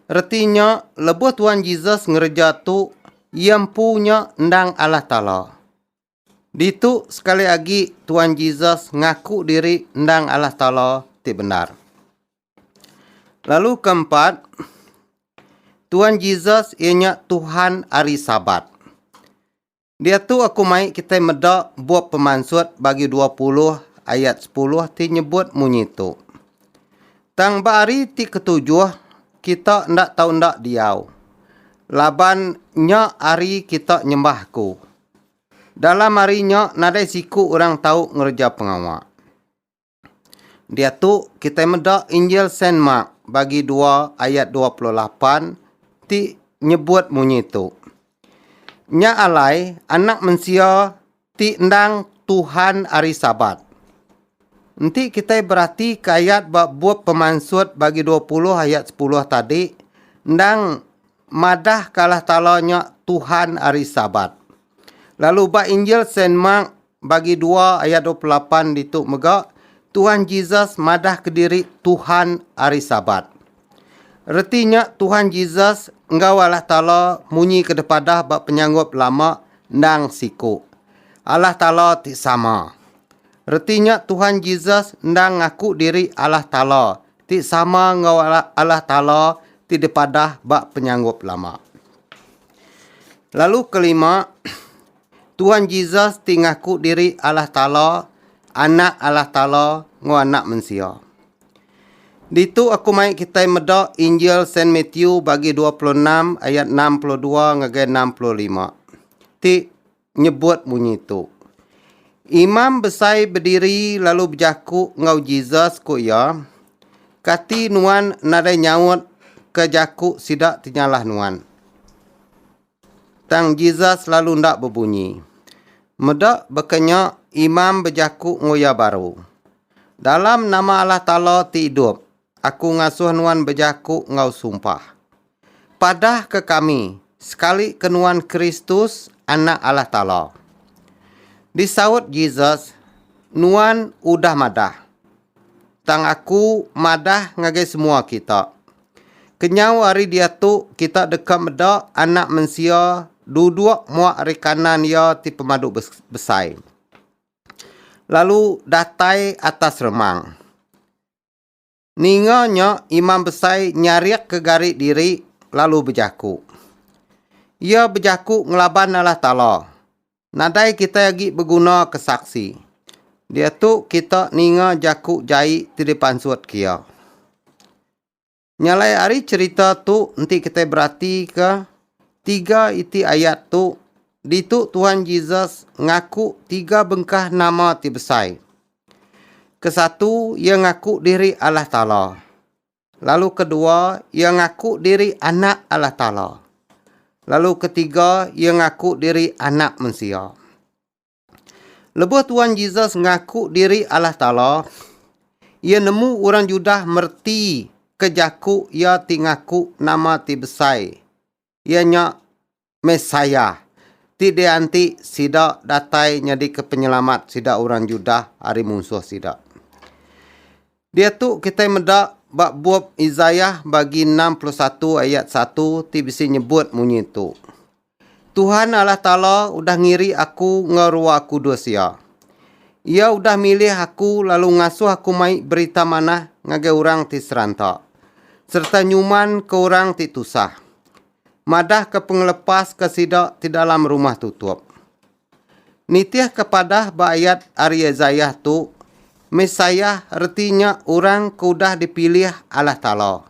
Reti nya, lebuh Tuhan Jesus ngereja tu, iya empu nya endang Allah Taala. Ditu sekali agi Tuan Jesus ngaku diri endang Allah Taala ti bendar. Lalu keempat, Tuan Jesus iya nya Tuhan ari Sabat. Diatu aku mai kitai meda bup pemansut bagi 20 ayat 10 ti nyebut munyi tu. Tang ba hari ti ketujuh kita enda tau enda diau. Laban nya hari kita nyembah aku. Dalam hari nya nadai siku orang tau ngereja pengawa. Diatu kitai meda Injil Saint Mark bagi dua ayat dua puluh lapan ti nyebut munyi tu, Nya alai Anak Mensia ti endang Tuhan Hari Sabat. Enti kitai beratika ayat ba bup pemansut bagi dua puluh ayat sepuluh tadi, endang Madah ke Allah Taala nya Tuhan hari Sabat. Lalu ba Injil Saint Mark bagi dua ayat dua puluh lapan ditu mega Tuhan Jesus madah kediri Tuhan hari Sabat. Reti nya Tuhan Jesus enggau Allah Taala munyi ke depadah ba penyanggup lama endang siku. Allah Taala ti sama. Reti nya Tuhan Jesus endang ngaku diri Allah Taala ti sama enggau Allah Taala ti dipadah ba penyanggup lama. Lalu kelima, Tuhan Jesus ti ngaku diri Allah Taala, Anak Allah Taala enggau anak mensia. Ditu aku mai kitai meda Injil Saint Matthew bagi 26 ayat 62 ngagai 65 ti nyebut munyi tu. Imam besai bediri lalu bejaku enggau Jesus ku iya, Kati nuan nadai nyaut ke jaku sida ti nyalah nuan? Tang Jesus lalu enda bebunyi. Meda baka nya imam bejaku enggau iya baru, Dalam nama Allah Taala ti idup, Aku ngasuh nuan bejaku enggau sumpah. Padahka kami, sekalika nuan Kristus, Anak Allah Taala. Disaut Jesus, Nuan udah madah. Tang aku madah ngagai semua kita. Kenyau ari diatu kita deka meda Anak Mensia duduk muak ari kanan Iya ti Pemadu Besai, lalu datai atas remang. Ninga nya Imam Besai nyarikka gari diri lalu bejaku. Iya bejaku ngelaban Allah Taala. Nadai kitai agi begunaka saksi. Diatu kita ninga jaku jai ti dipansut ke iya. Nyalai ari cherita tu enti kitai beratika tiga iti ayat tu ditu Tuhan Jesus ngaku tiga bengkah nama ti besai. Kesatu iya ngaku diri Allah Taala. Lalu kedua iya ngaku diri anak Allah Taala. Lalu ketiga iya ngaku diri anak mensia. Lebuh Tuan Jesus ngaku diri Alah Taala, iya nemu orang Judah mereti ke jaku iya ti ngaku nama ti besai, iya nya Messiah, ti dianti sida datai nyadika Penyelamat sida orang Judah ari munsuh sida. Diatu kitai meda ba bup Isaiah bagi enam puluh satu ayat satu ti bisi nyebut munyi tu. Tuhan Allah Taala udah ngiri aku enggau rua kudus Iya. Iya udah milih aku lalu ngasuh aku mai Berita Manah ngagai orang ti seranta, sereta nyumanka orang ti tusah, madahka pengelepas ke sida ti dalam rumah tutup. Nitihka padah ba ayat ari Isaiah tu, Messiah reti nya Orang ke udah dipilih Allah Taala.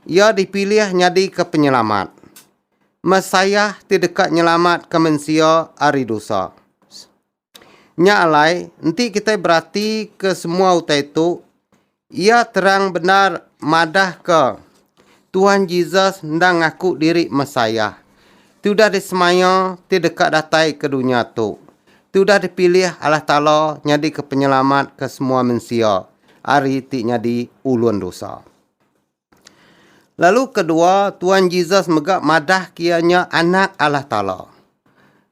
Iya dipilih nyadika Penyelamat. Messiah ti deka nyelamatka mensia ari dosa. Nya alai, enti kitai beratika semua utai tu, iya terang bendar madahka Tuhan Jesus enda ngaku diri Messiah ti udah disemaya ti deka datai ke dunya tu, ti udah dipilih Allah Taala nyadika Penyelamat ke semua mensia ari ti nyadi ulun dosa. Lalu kedua, Tuan Jesus mega madah ke iya nya Anak Allah Taala.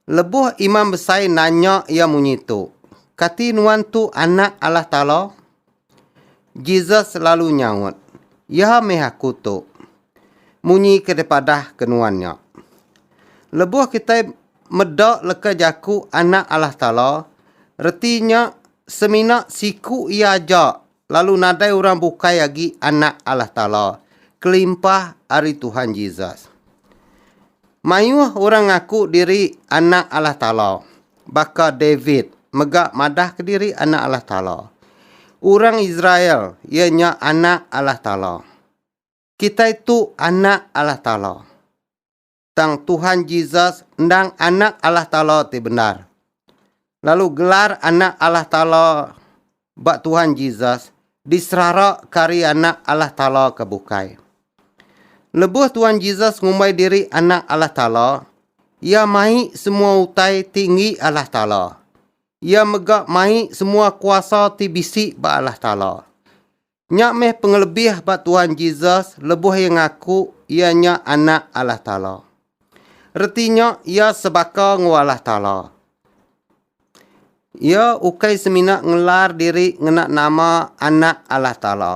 Lebuh imam besai nanya iya munyi tu, Kati nuan tu Anak Allah Taala? Jesus lalu nyaut, Iya meh aku tu. Munyi ke dipadah ke nuan nya. Lebuh kitai meda leka jaku Anak Allah Taala, reti nya semina siku iya aja lalu nadai orang bukai agi Anak Allah Taala kelimpah ari Tuhan Jesus. Mayuh orang ngaku diri anak Allah Taala, baka David mega madahka diri anak Allah Taala. Orang Israel iya nya anak Allah Taala. Kitai tu anak Allah Taala. tang Tuhan Jesus endang Anak Allah Taala ti bendar. Lalu gelar Anak Allah Taala ba Tuhan Jesus diserara ke ari Anak Allah Taala ke bukai. Lebuh Tuhan Jesus ngumbai diri Anak Allah Taala, Iya mai semua utai ti enggi Allah Taala. Iya mega mai semua kuasa ti bisi ba Allah Taala. Nya meh pengelebih ba Tuhan Jesus lebuh iya ngaku iya nya Anak Allah Taala. Reti nya iya sebaka enggau Allah Taala. Iya ukai semina ngelar diri ngena nama Anak Allah Taala,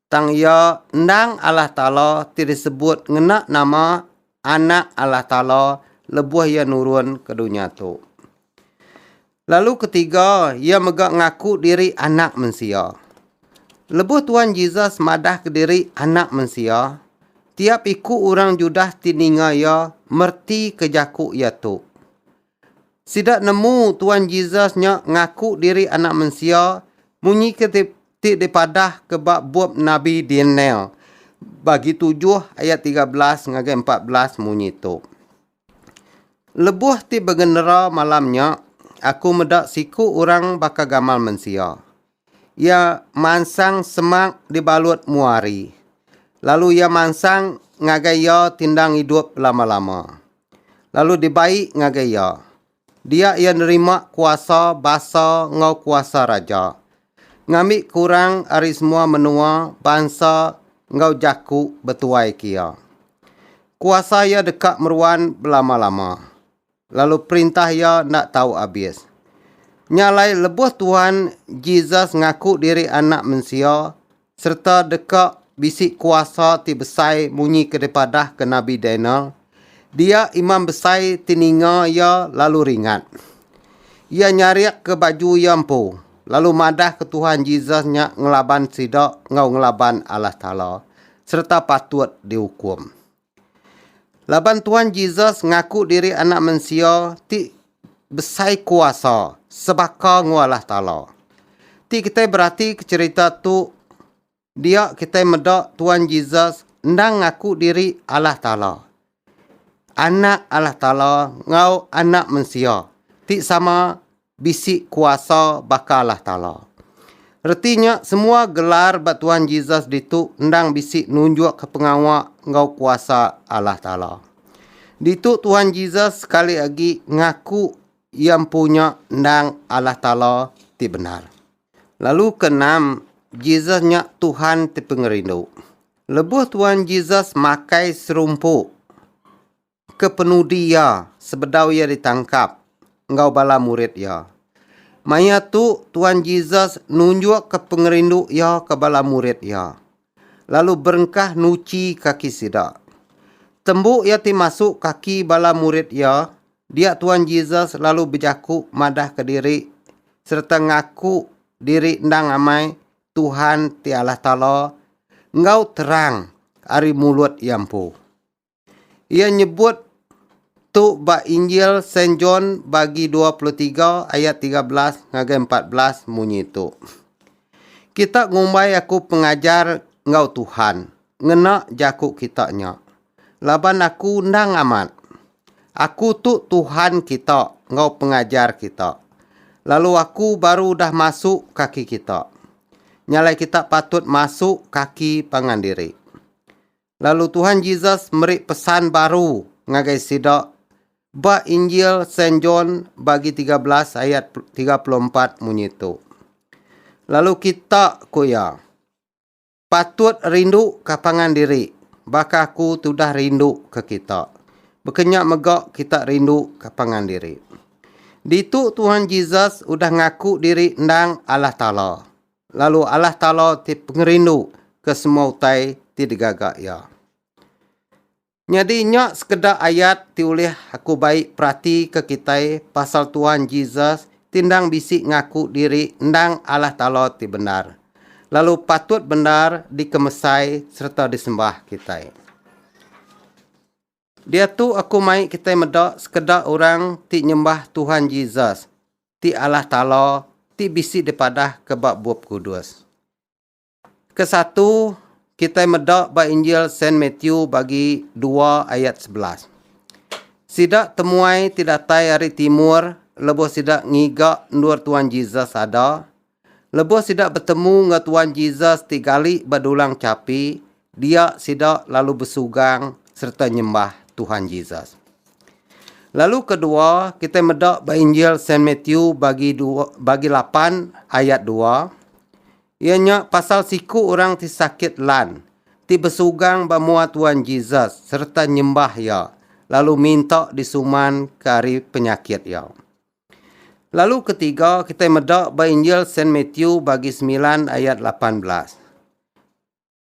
tang iya endang Allah Taala ti disebut ngena nama Anak Allah Taala lebuh iya nurun ke dunya tu. Lalu ketiga, iya mega ngaku diri Anak Mensia. Lebuh Tuan Jesus madahka diri Anak Mensia, tiap iku orang Judah ti ninga iya mertika jaku iya tu. Sida nemu Tuan Jesus nya ngaku diri Anak Mensia munyi ke ti, ti dipadahka ba bup nabi Daniel bagi tujuh ayat tiga belas ngagai empat belas munyi tu. Lebuh ti begenera malam nya, aku meda siku orang baka gamal mensia. Iya mansang semak dibalut mua hari, lalu iya mansang ngagai iya tindang idup belama-lama. Lalu dibai ngagai iya, Dia iya nerima kuasa basa enggau kuasa raja. Ngambi kurang ari semua menua, bansa enggau jaku betuai ke iya. Kuasa iya deka meruan belama-lama, lalu perintah iya enda tau abis. Nya alai lebuh Tuhan Jesus ngaku diri Anak Mensia, sereta deka bisi kuasa ti besai munyi ke dipadahka nabi Daniel, dia imam besai ti ninga iya lalu ringat. Iya nyarikka baju iya empu, lalu madahka Tuhan Jesus nya ngelaban sida enggau ngelaban Allah Taala sereta patut diukum. Laban Tuan Jesus ngaku diri Anak Mensia ti besai kuasa sebaka enggau Allah Taala. Ti kitai beratika cherita tu dia kitai meda Tuan Jesus endang ngaku diri Allah Taala. Anak Allah Taala enggau Anak Mensia ti sama bisi kuasa baka Allah Taala. Reti nya semua gelar ba Tuhan Jesus ditu endang bisi nunjukka pengawa enggau kuasa Allah Taala. Ditu Tuhan Jesus sekali agi ngaku Iya empu nya endang Allah Taala ti bendar. Lalu ke enam, Jesus nya Tuhan ti pengerindu. Lebuh Tuhan Jesus makai serumpu kepenudi iya sebedau iya ditangkap enggau bala murid iya. Maya tu, Tuan Jesus nunjukka pengerindu iya ke bala murid iya, lalu berengkah nuchi kaki sida. Tembu iya ti masuk kaki bala murid iya, dia Tuan Jesus lalu bejaku madahka diri sereta ngaku diri endang amai Tuhan ti Allah Taala enggau terang ari mulut iya empu. Iya nyebut tu ba Injil Saint John bagi 23 ayat 13 ngagai 14 munyi tu. Kita ngumbai aku pengajar enggau Tuhan, ngena jaku kita nya. Laban aku endang amat. Aku tu Tuhan kita enggau pengajar kita. Lalu aku baru udah masu kaki kita. Nyalai kita patut masu kaki pangan diri. Lalu Tuhan Jesus meri pesan baru ngagai sida ba Injil Saint John bagi 13 ayat 34 munyi tu. Lalu kita ku iya patut rindu ka pangan diri baka aku tudah rindu ke kita. Bekenya mega kita rindu ka pangan diri. Ditu Tuhan Jesus udah ngaku diri endang Allah Taala. Lalu Allah Taala ti pengerindu ke semua utai ti digaga Iya. Nyadi nya sekeda ayat ti ulih aku bai peratika kitai pasal Tuhan Jesus ti endang bisi ngaku diri endang Allah Taala ti bendar, lalu patut bendar dikemesai sereta disembah kitai. Diatu aku mai kitai meda sekeda orang ti nyembah Tuhan Jesus ti Allah Taala ti bisi dipadahka ba Bup Kudus. Ke satu, kitai meda ba Injil Saint Matthew bagi dua ayat sebelas. Sida temuai ti datai ari timur lebuh sida ngiga endur Tuhan Jesus ada, Lebuh sida betemu enggau Tuan Jesus ti gali ba dulang chapi, dia sida lalu besugang sereta nyembah Tuhan Jesus. Lalu kedua, kitai meda ba Injil Saint Matthew bagi dua, bagi lapan ayat dua, iya nya pasal siku orang ti sakit lan ti besugang ba mua Tuan Jesus sereta nyembah iya lalu minta disuman ke ari penyakit iya. Lalu ketiga kitai meda ba Injil Saint Matthew bagi semilan ayat lapan belas.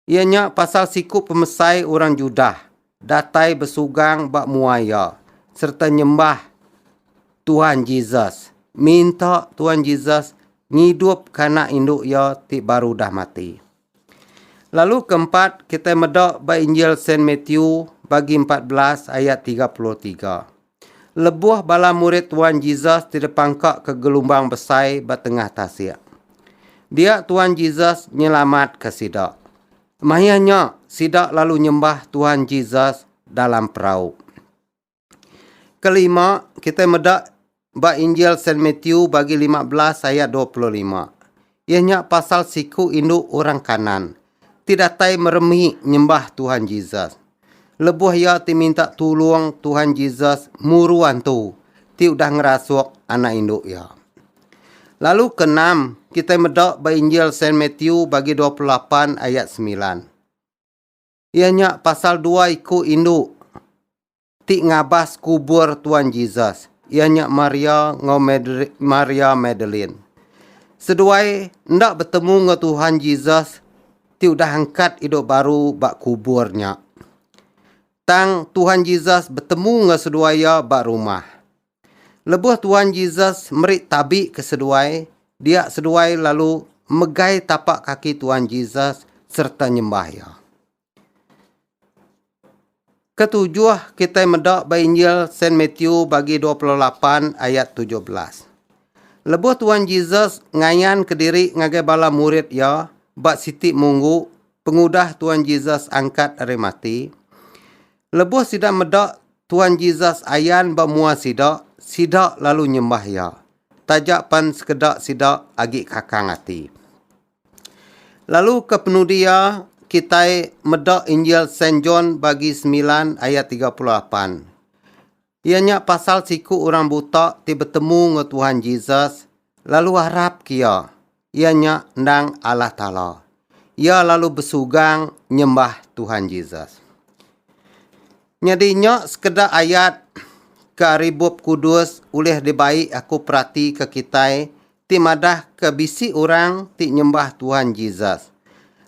Iya nya pasal siku pemesai orang Judah datai besugang ba mua iya sereta nyembah Tuhan Jesus, minta Tuhan Jesus ngidup kanak indu iya ti baru udah mati. Lalu ke empat, kitai meda ba Injil Saint Matthew bagi empat belas ayat tiga puluh tiga. Lebuh bala murid Tuan Jesus ti dipangka ke gelumbang besai ba tengah tasik. Dia Tuan Jesus nyelamat ke sida. Maya nya, sida lalu nyembah Tuan Jesus dalam perau. Kelima, kitai meda ba Injil Saint Matthew bagi lima belas ayat dua puluh lima. Iya nya pasal siku indu orang Kanaan ti datai meremi nyembah Tuhan Jesus. Lebuh iya ti minta tulung Tuhan Jesus muru antu ti udah ngerasuk anak indu iya. Lalu keenam, kitai meda ba Injil Saint Matthew bagi dua puluh lapan ayat semilan. Iya nya pasal dua iku indu ti ngabas kubur Tuan Jesus, iya nya Maria enggau Maria Madalene. Seduai enda betemu enggau Tuhan Jesus ti udah angkat idup baru ba kubur nya. Tang Tuhan Jesus betemu enggau seduai iya ba rumah. Lebuh Tuan Jesus meri tabi ke seduai, dia seduai lalu megai tapa kaki Tuan Jesus sereta nyembah iya. Ketujuh kitai meda ba Injil Saint Matthew bagi 28 ayat 17. Lebuh Tuan Jesus ngayan kediri ngagai bala murid iya ba siti munggu pengudah Tuan Jesus angkat ari mati, Lebuh sida meda Tuan Jesus ayan ba mua sida, sida lalu nyembah Iya, taja pan sekeda sida agi kakang ati. Lalu kepenudi iya, kitai meda Injil Saint John bagi semilan ayat tiga puluh lapan. Iya nya pasal siku orang buta ti betemu enggau Tuhan Jesus lalu arapka iya, iya nya endang Allah Taala. Iya lalu besugang nyembah Tuhan Jesus. Nyadi nya sekeda ayat ke ari Bup Kudus ulih dibai aku peratika kitai ti madahka bisi orang ti nyembah Tuhan Jesus,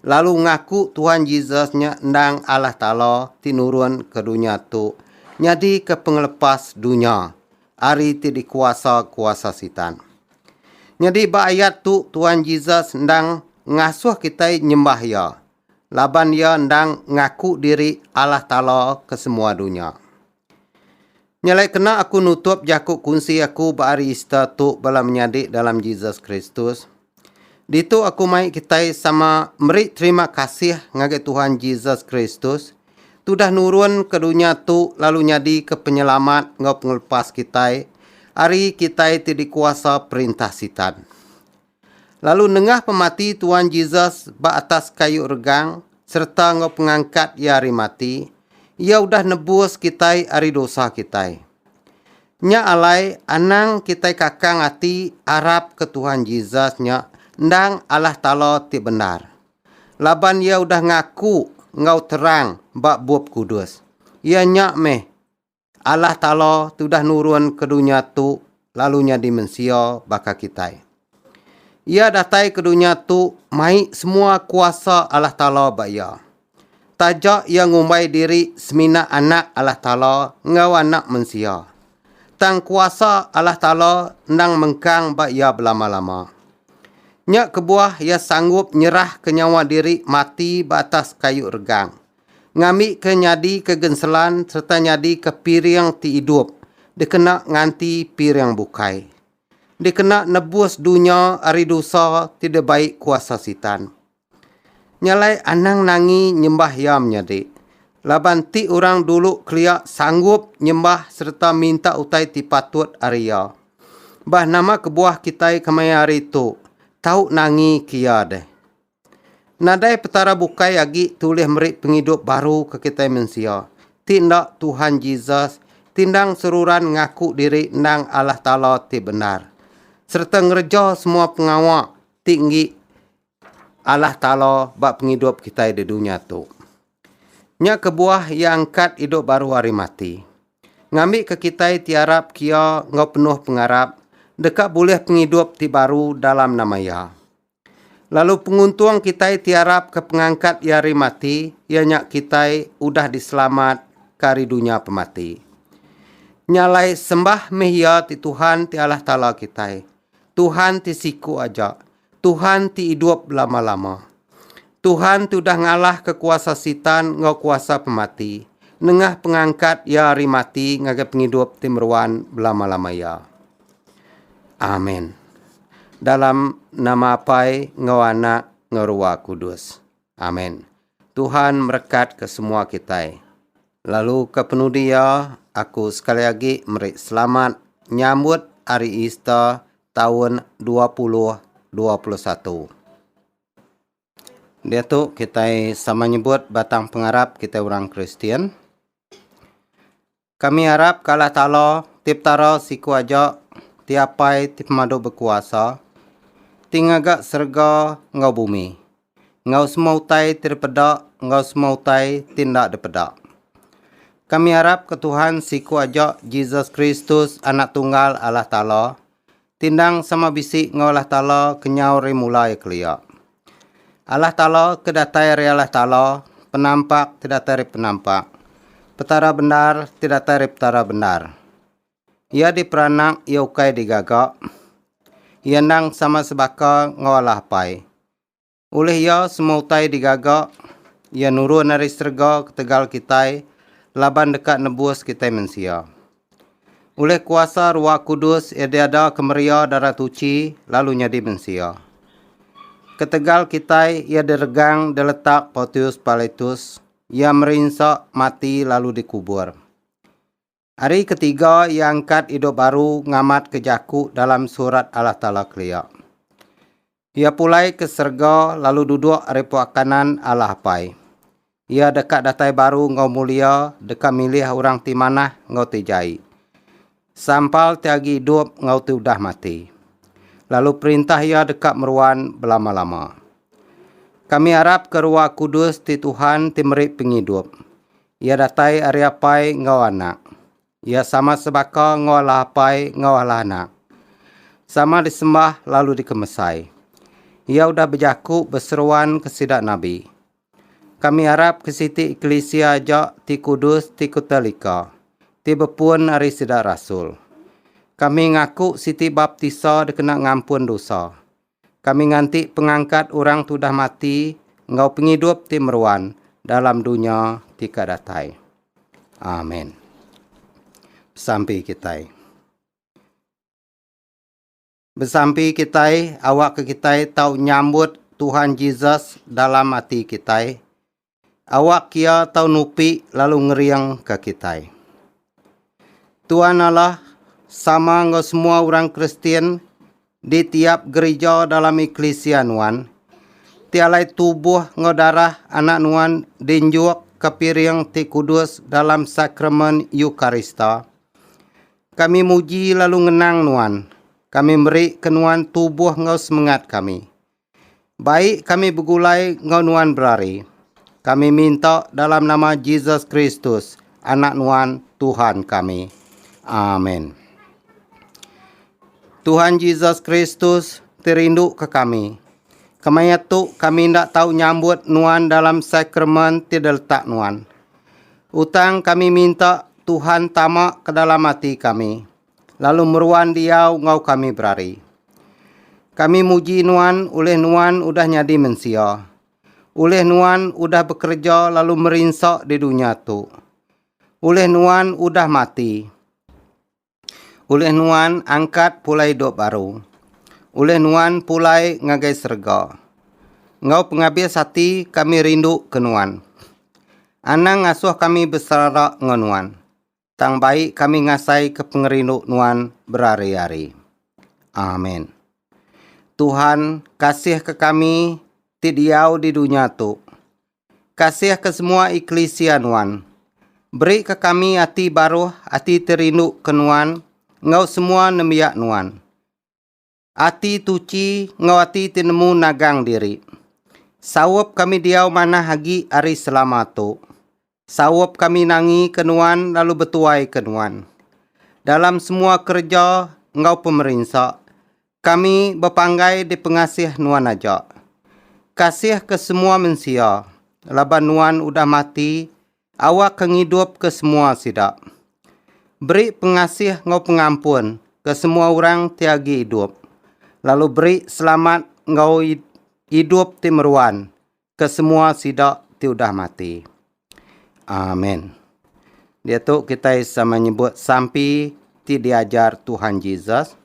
lalu ngaku Tuhan Jesus nya endang Allah Taala ti nurun ke dunya tu nyadika pengelepas dunya ari ti dikuasa kuasa Sitan. Nyadi ba ayat tu Tuhan Jesus endang ngasuh kitai nyembah Iya, laban Iya endang ngaku diri Allah Taala ke semua dunya. Nya alai kena aku nutup jaku kunsi aku ba hari Easter tu bala menyadi dalam Jesus Kristus. Ditu aku mai kitai sama meri terima kasih ngagai Tuhan Jesus Kristus tu dah nurun ke dunya tu lalu nyadi ke penyelamat enggau pengelepas kitai ari kitai ti dikuasa perintah Sitan. Lalu nengah pemati Tuan Jesus ba atas kayu regang sereta enggau pengangkat Iya ari mati, Iya udah nebus kitai ari dosa kitai. Nya alai anang kitai kakang ati arapka Tuhan Jesus nya endang Allah Taala ti bendar. Laban Iya udah ngaku enggau terang ba Bup Kudus, Iya nya meh Allah Taala tudah nurun ke dunya tu lalu nyadi mensia baka kitai. Iya datai ke dunya tu mai semua kuasa Allah Taala ba iya. Taja iya ngumbai diri semina Anak Allah Taala enggau Anak Mensia. Tang kuasa Allah Taala endang mengkang ba iya belama-lama. Nya kebuah iya sanggup nyerahka nyawa diri mati ba atas kayu regang ngambika nyadika genselan sereta nyadika piring ti idup dikena nganti piring bukai, dikena nebus dunya ari dosa ti dibai kuasa Sitan. Nya alai anang nangi nyembah iya menyadi, laban ti orang dulu kelia sanggup nyembah sereta minta utai ti patut ari iya. Bah nama kebuah kitai kemaya hari tu tau nangika iya deh? Nadai Petara bukai agi ti ulih meri pengidup baru ke kitai mensia, ti enda Tuhan Jesus ti endang seruran ngaku diri endang Allah Taala ti bendar, sereta ngereja semua pengawa ti enggi Allah Taala ba pengidup kitai di dunya tu. Nya kebuah Iya angkat idup baru ari mati. Ngambika kitai ti arap ke Iya enggau penuh pengarap deka bulih pengidup ti baru dalam nama Iya. Lalu penguntung kitai ti arap ke pengangkat iya ari mati iya nya kitai udah diselamat ka ari dunya pemati. Nya alai sembah meh iya ti Tuhan ti Allah Taala kitai. Tuhan ti siku aja. Tuhan ti idup belama-lama. Tuhan ti udah ngalah ke kuasa sitan enggau kuasa pemati nengah pengangkat iya ari mati ngagai pengidup ti meruan belama-lama iya. Amen. Dalam nama Apai enggau Anak enggau Rua Kudus. Amen. Tuhan merekat ke semua kitai. Lalu ke penudi iya, aku sekali agi meri selamat nyambut Hari Easter taun 2021. Diatu kitai sama nyebut batang pengarap kitai orang Kristian. Kami arap ka Allah Taala ti Petara siku aja ti Apai ti Pemadu Bekuasa ti ngaga serega enggau bumi, enggau semua utai ti dipeda enggau semua utai ti enda dipeda. Kami arap ke Tuhan siku aja Jesus Kristus Anak Tunggal Allah Taala Tindang sama bisi enggau Allah Taala kenyau ari mula iya kelia. Allah Taala ke datai ari Allah Taala, penampak ti datai ari penampak, Petara bendar ti datai ari Petara bendar. Iya diperanak iya ukai digaga. Iya endang sama sebaka enggau Allah Apai. Ulih iya semua utai digaga, iya nurun ari serega ketegal kitai laban deka nebus kitai mensia. Ulih kuasa Ruah Kudus iya diada ke meria Darah Tuchi lalu nyadi mensia. Ketegal kitai iya diregang diletak Portius Pilatus, iya merinsa, mati lalu dikubur. Ari ketiga iya angkat idup baru ngamatka jaku dalam Surat Allah Taala kelia. Iya pulai ke serega lalu duduk ari puak kanan Allah Apai. Iya deka datai baru enggau mulia deka milih orang ti manah enggau ti jai, sampal ti agi idup enggau ti udah mati. Lalu perintah iya deka meruan belama-lama. Kami arapka Ruah Kudus ti Tuhan ti meri pengidup. Iya datai ari Apai enggau Anak. Iya sama sebaka enggau Allah Apai enggau Allah Anak. Sama disembah lalu dikemesai. Iya udah bejaku beseruan ke sida nabi. Kami arap ke siti eklisia aja ti kudus ti ketelika, ti bepun ari sida rasul. Kami ngaku siti baptisa dikena ngampun dosa. Kami nganti pengangkat orang ti udah mati enggau pengidup ti meruan dalam dunya ti ka datai. Amen. Besampi kitai. Besampi kitai awakka kitai tau nyambut Tuhan Jesus dalam ati kitai Awak kia tau nupi lalu ngering ka kitai. Tuan Allah sama enggau semua orang Kristian di tiap gerija dalam eklisia nuan, ti alai tubuh enggau darah anak nuan dinjuk ka piring ti kudus dalam sakramen Eukarista. Kami muji lalu ngenang nuan, kami meri ke nuan tubuh enggau semengat kami. Bai kami begulai enggau nuan berari. Kami minta dalam nama Jesus Kristus, Anak Nuan, Tuhan kami. Amin. Tuhan Jesus Kristus ti rindu ke kami. Kemaya tu kami enda tahu nyambut nuan dalam sakramen ti diletak nuan. Utang kami minta Tuhan tama ke dalam ati kami. lalu meruan diau enggau kami berari. Kami muji Nuan ulih Nuan udah nyadi mensia, ulih Nuan udah bekereja lalu merinsa di dunya tu, ulih Nuan udah mati, ulih Nuan angkat pulai idup baru, ulih Nuan pulai ngagai serega. Enggau pengabis ati kami rinduka Nuan. Anang ngasuh kami beserara enggau Nuan. tang bai kami ngasaika pengerindu Nuan berari-ari. Amin. Tuhan, kasihka kami ti diau di dunya tu. Kasihka semua eklisia Nuan. Berika kami ati baruh, ati ti rinduka Nuan enggau semua nembiak Nuan. Ati tuchi enggau ati ti nemu nagang diri. Saup kami diau manah agi ari selama tu. Saup kami nangika Nuan lalu betuaika Nuan. Dalam semua kereja enggau pemerinsa, kami bepanggai dipengasih Nuan aja. Kasihka semua mensia, laban Nuan udah mati Awakka ngidupka semua sida. Beri pengasih enggau pengampun ke semua orang ti agi idup, lalu beri selamat enggau idup ti meruan ke semua sida ti udah mati. Amen. Diatu kitai sama nyebut sampi ti diajar Tuhan Jesus.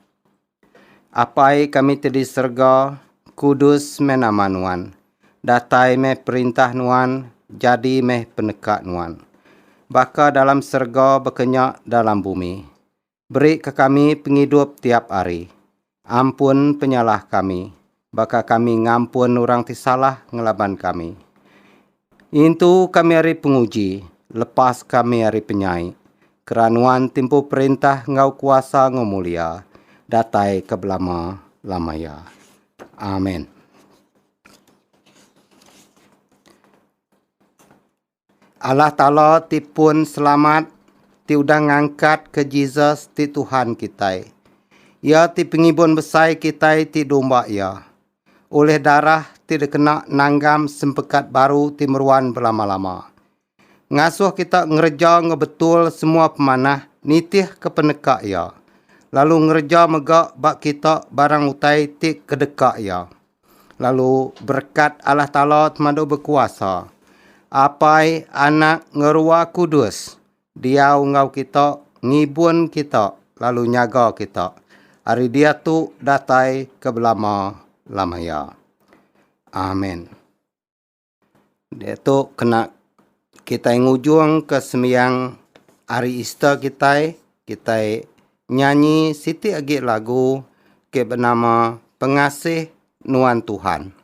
Apai kami ti di serga, kudus meh nama Nuan. Datai meh perintah Nuan, jadi meh peneka Nuan. Baka dalam serga bekenya dalam bumi. Beri ke kami pengidup tiap ari. Ampun penyalah kami, baka kami ngampun orang ti salah ngelaban kami. Intu kami ari penguji, lepas kami ari penyai, kera Nuan timpu perintah enggau kuasa enggau mulia, datai ke belama-lama iya. Amen. Allah Taala ti pun selamat ti udah ngangkatka Jesus ti Tuhan kitai. Iya ti pengibun besai kitai ti domba Iya. Ulih darah ti dikena nanggam sempekat baru ti meruan belama-lama. Ngasuh kita ngereja enggau betul semua pemanah nitihka peneka Iya, lalu ngereja mega ba kita barang utai ti kedeka Iya. Lalu berekat Allah Taala semadu bekuasa. Apai, Anak, enggau Ruah Kudus diau enggau kita, ngibun kita lalu nyaga kita ari diatu datai ke belama-lama iya. Amin. Diatu kena kitai ngujungka sembiang hari Easter kitai, kitai nyanyi siti agi lagu ke benama Pengasih Nuan Tuhan.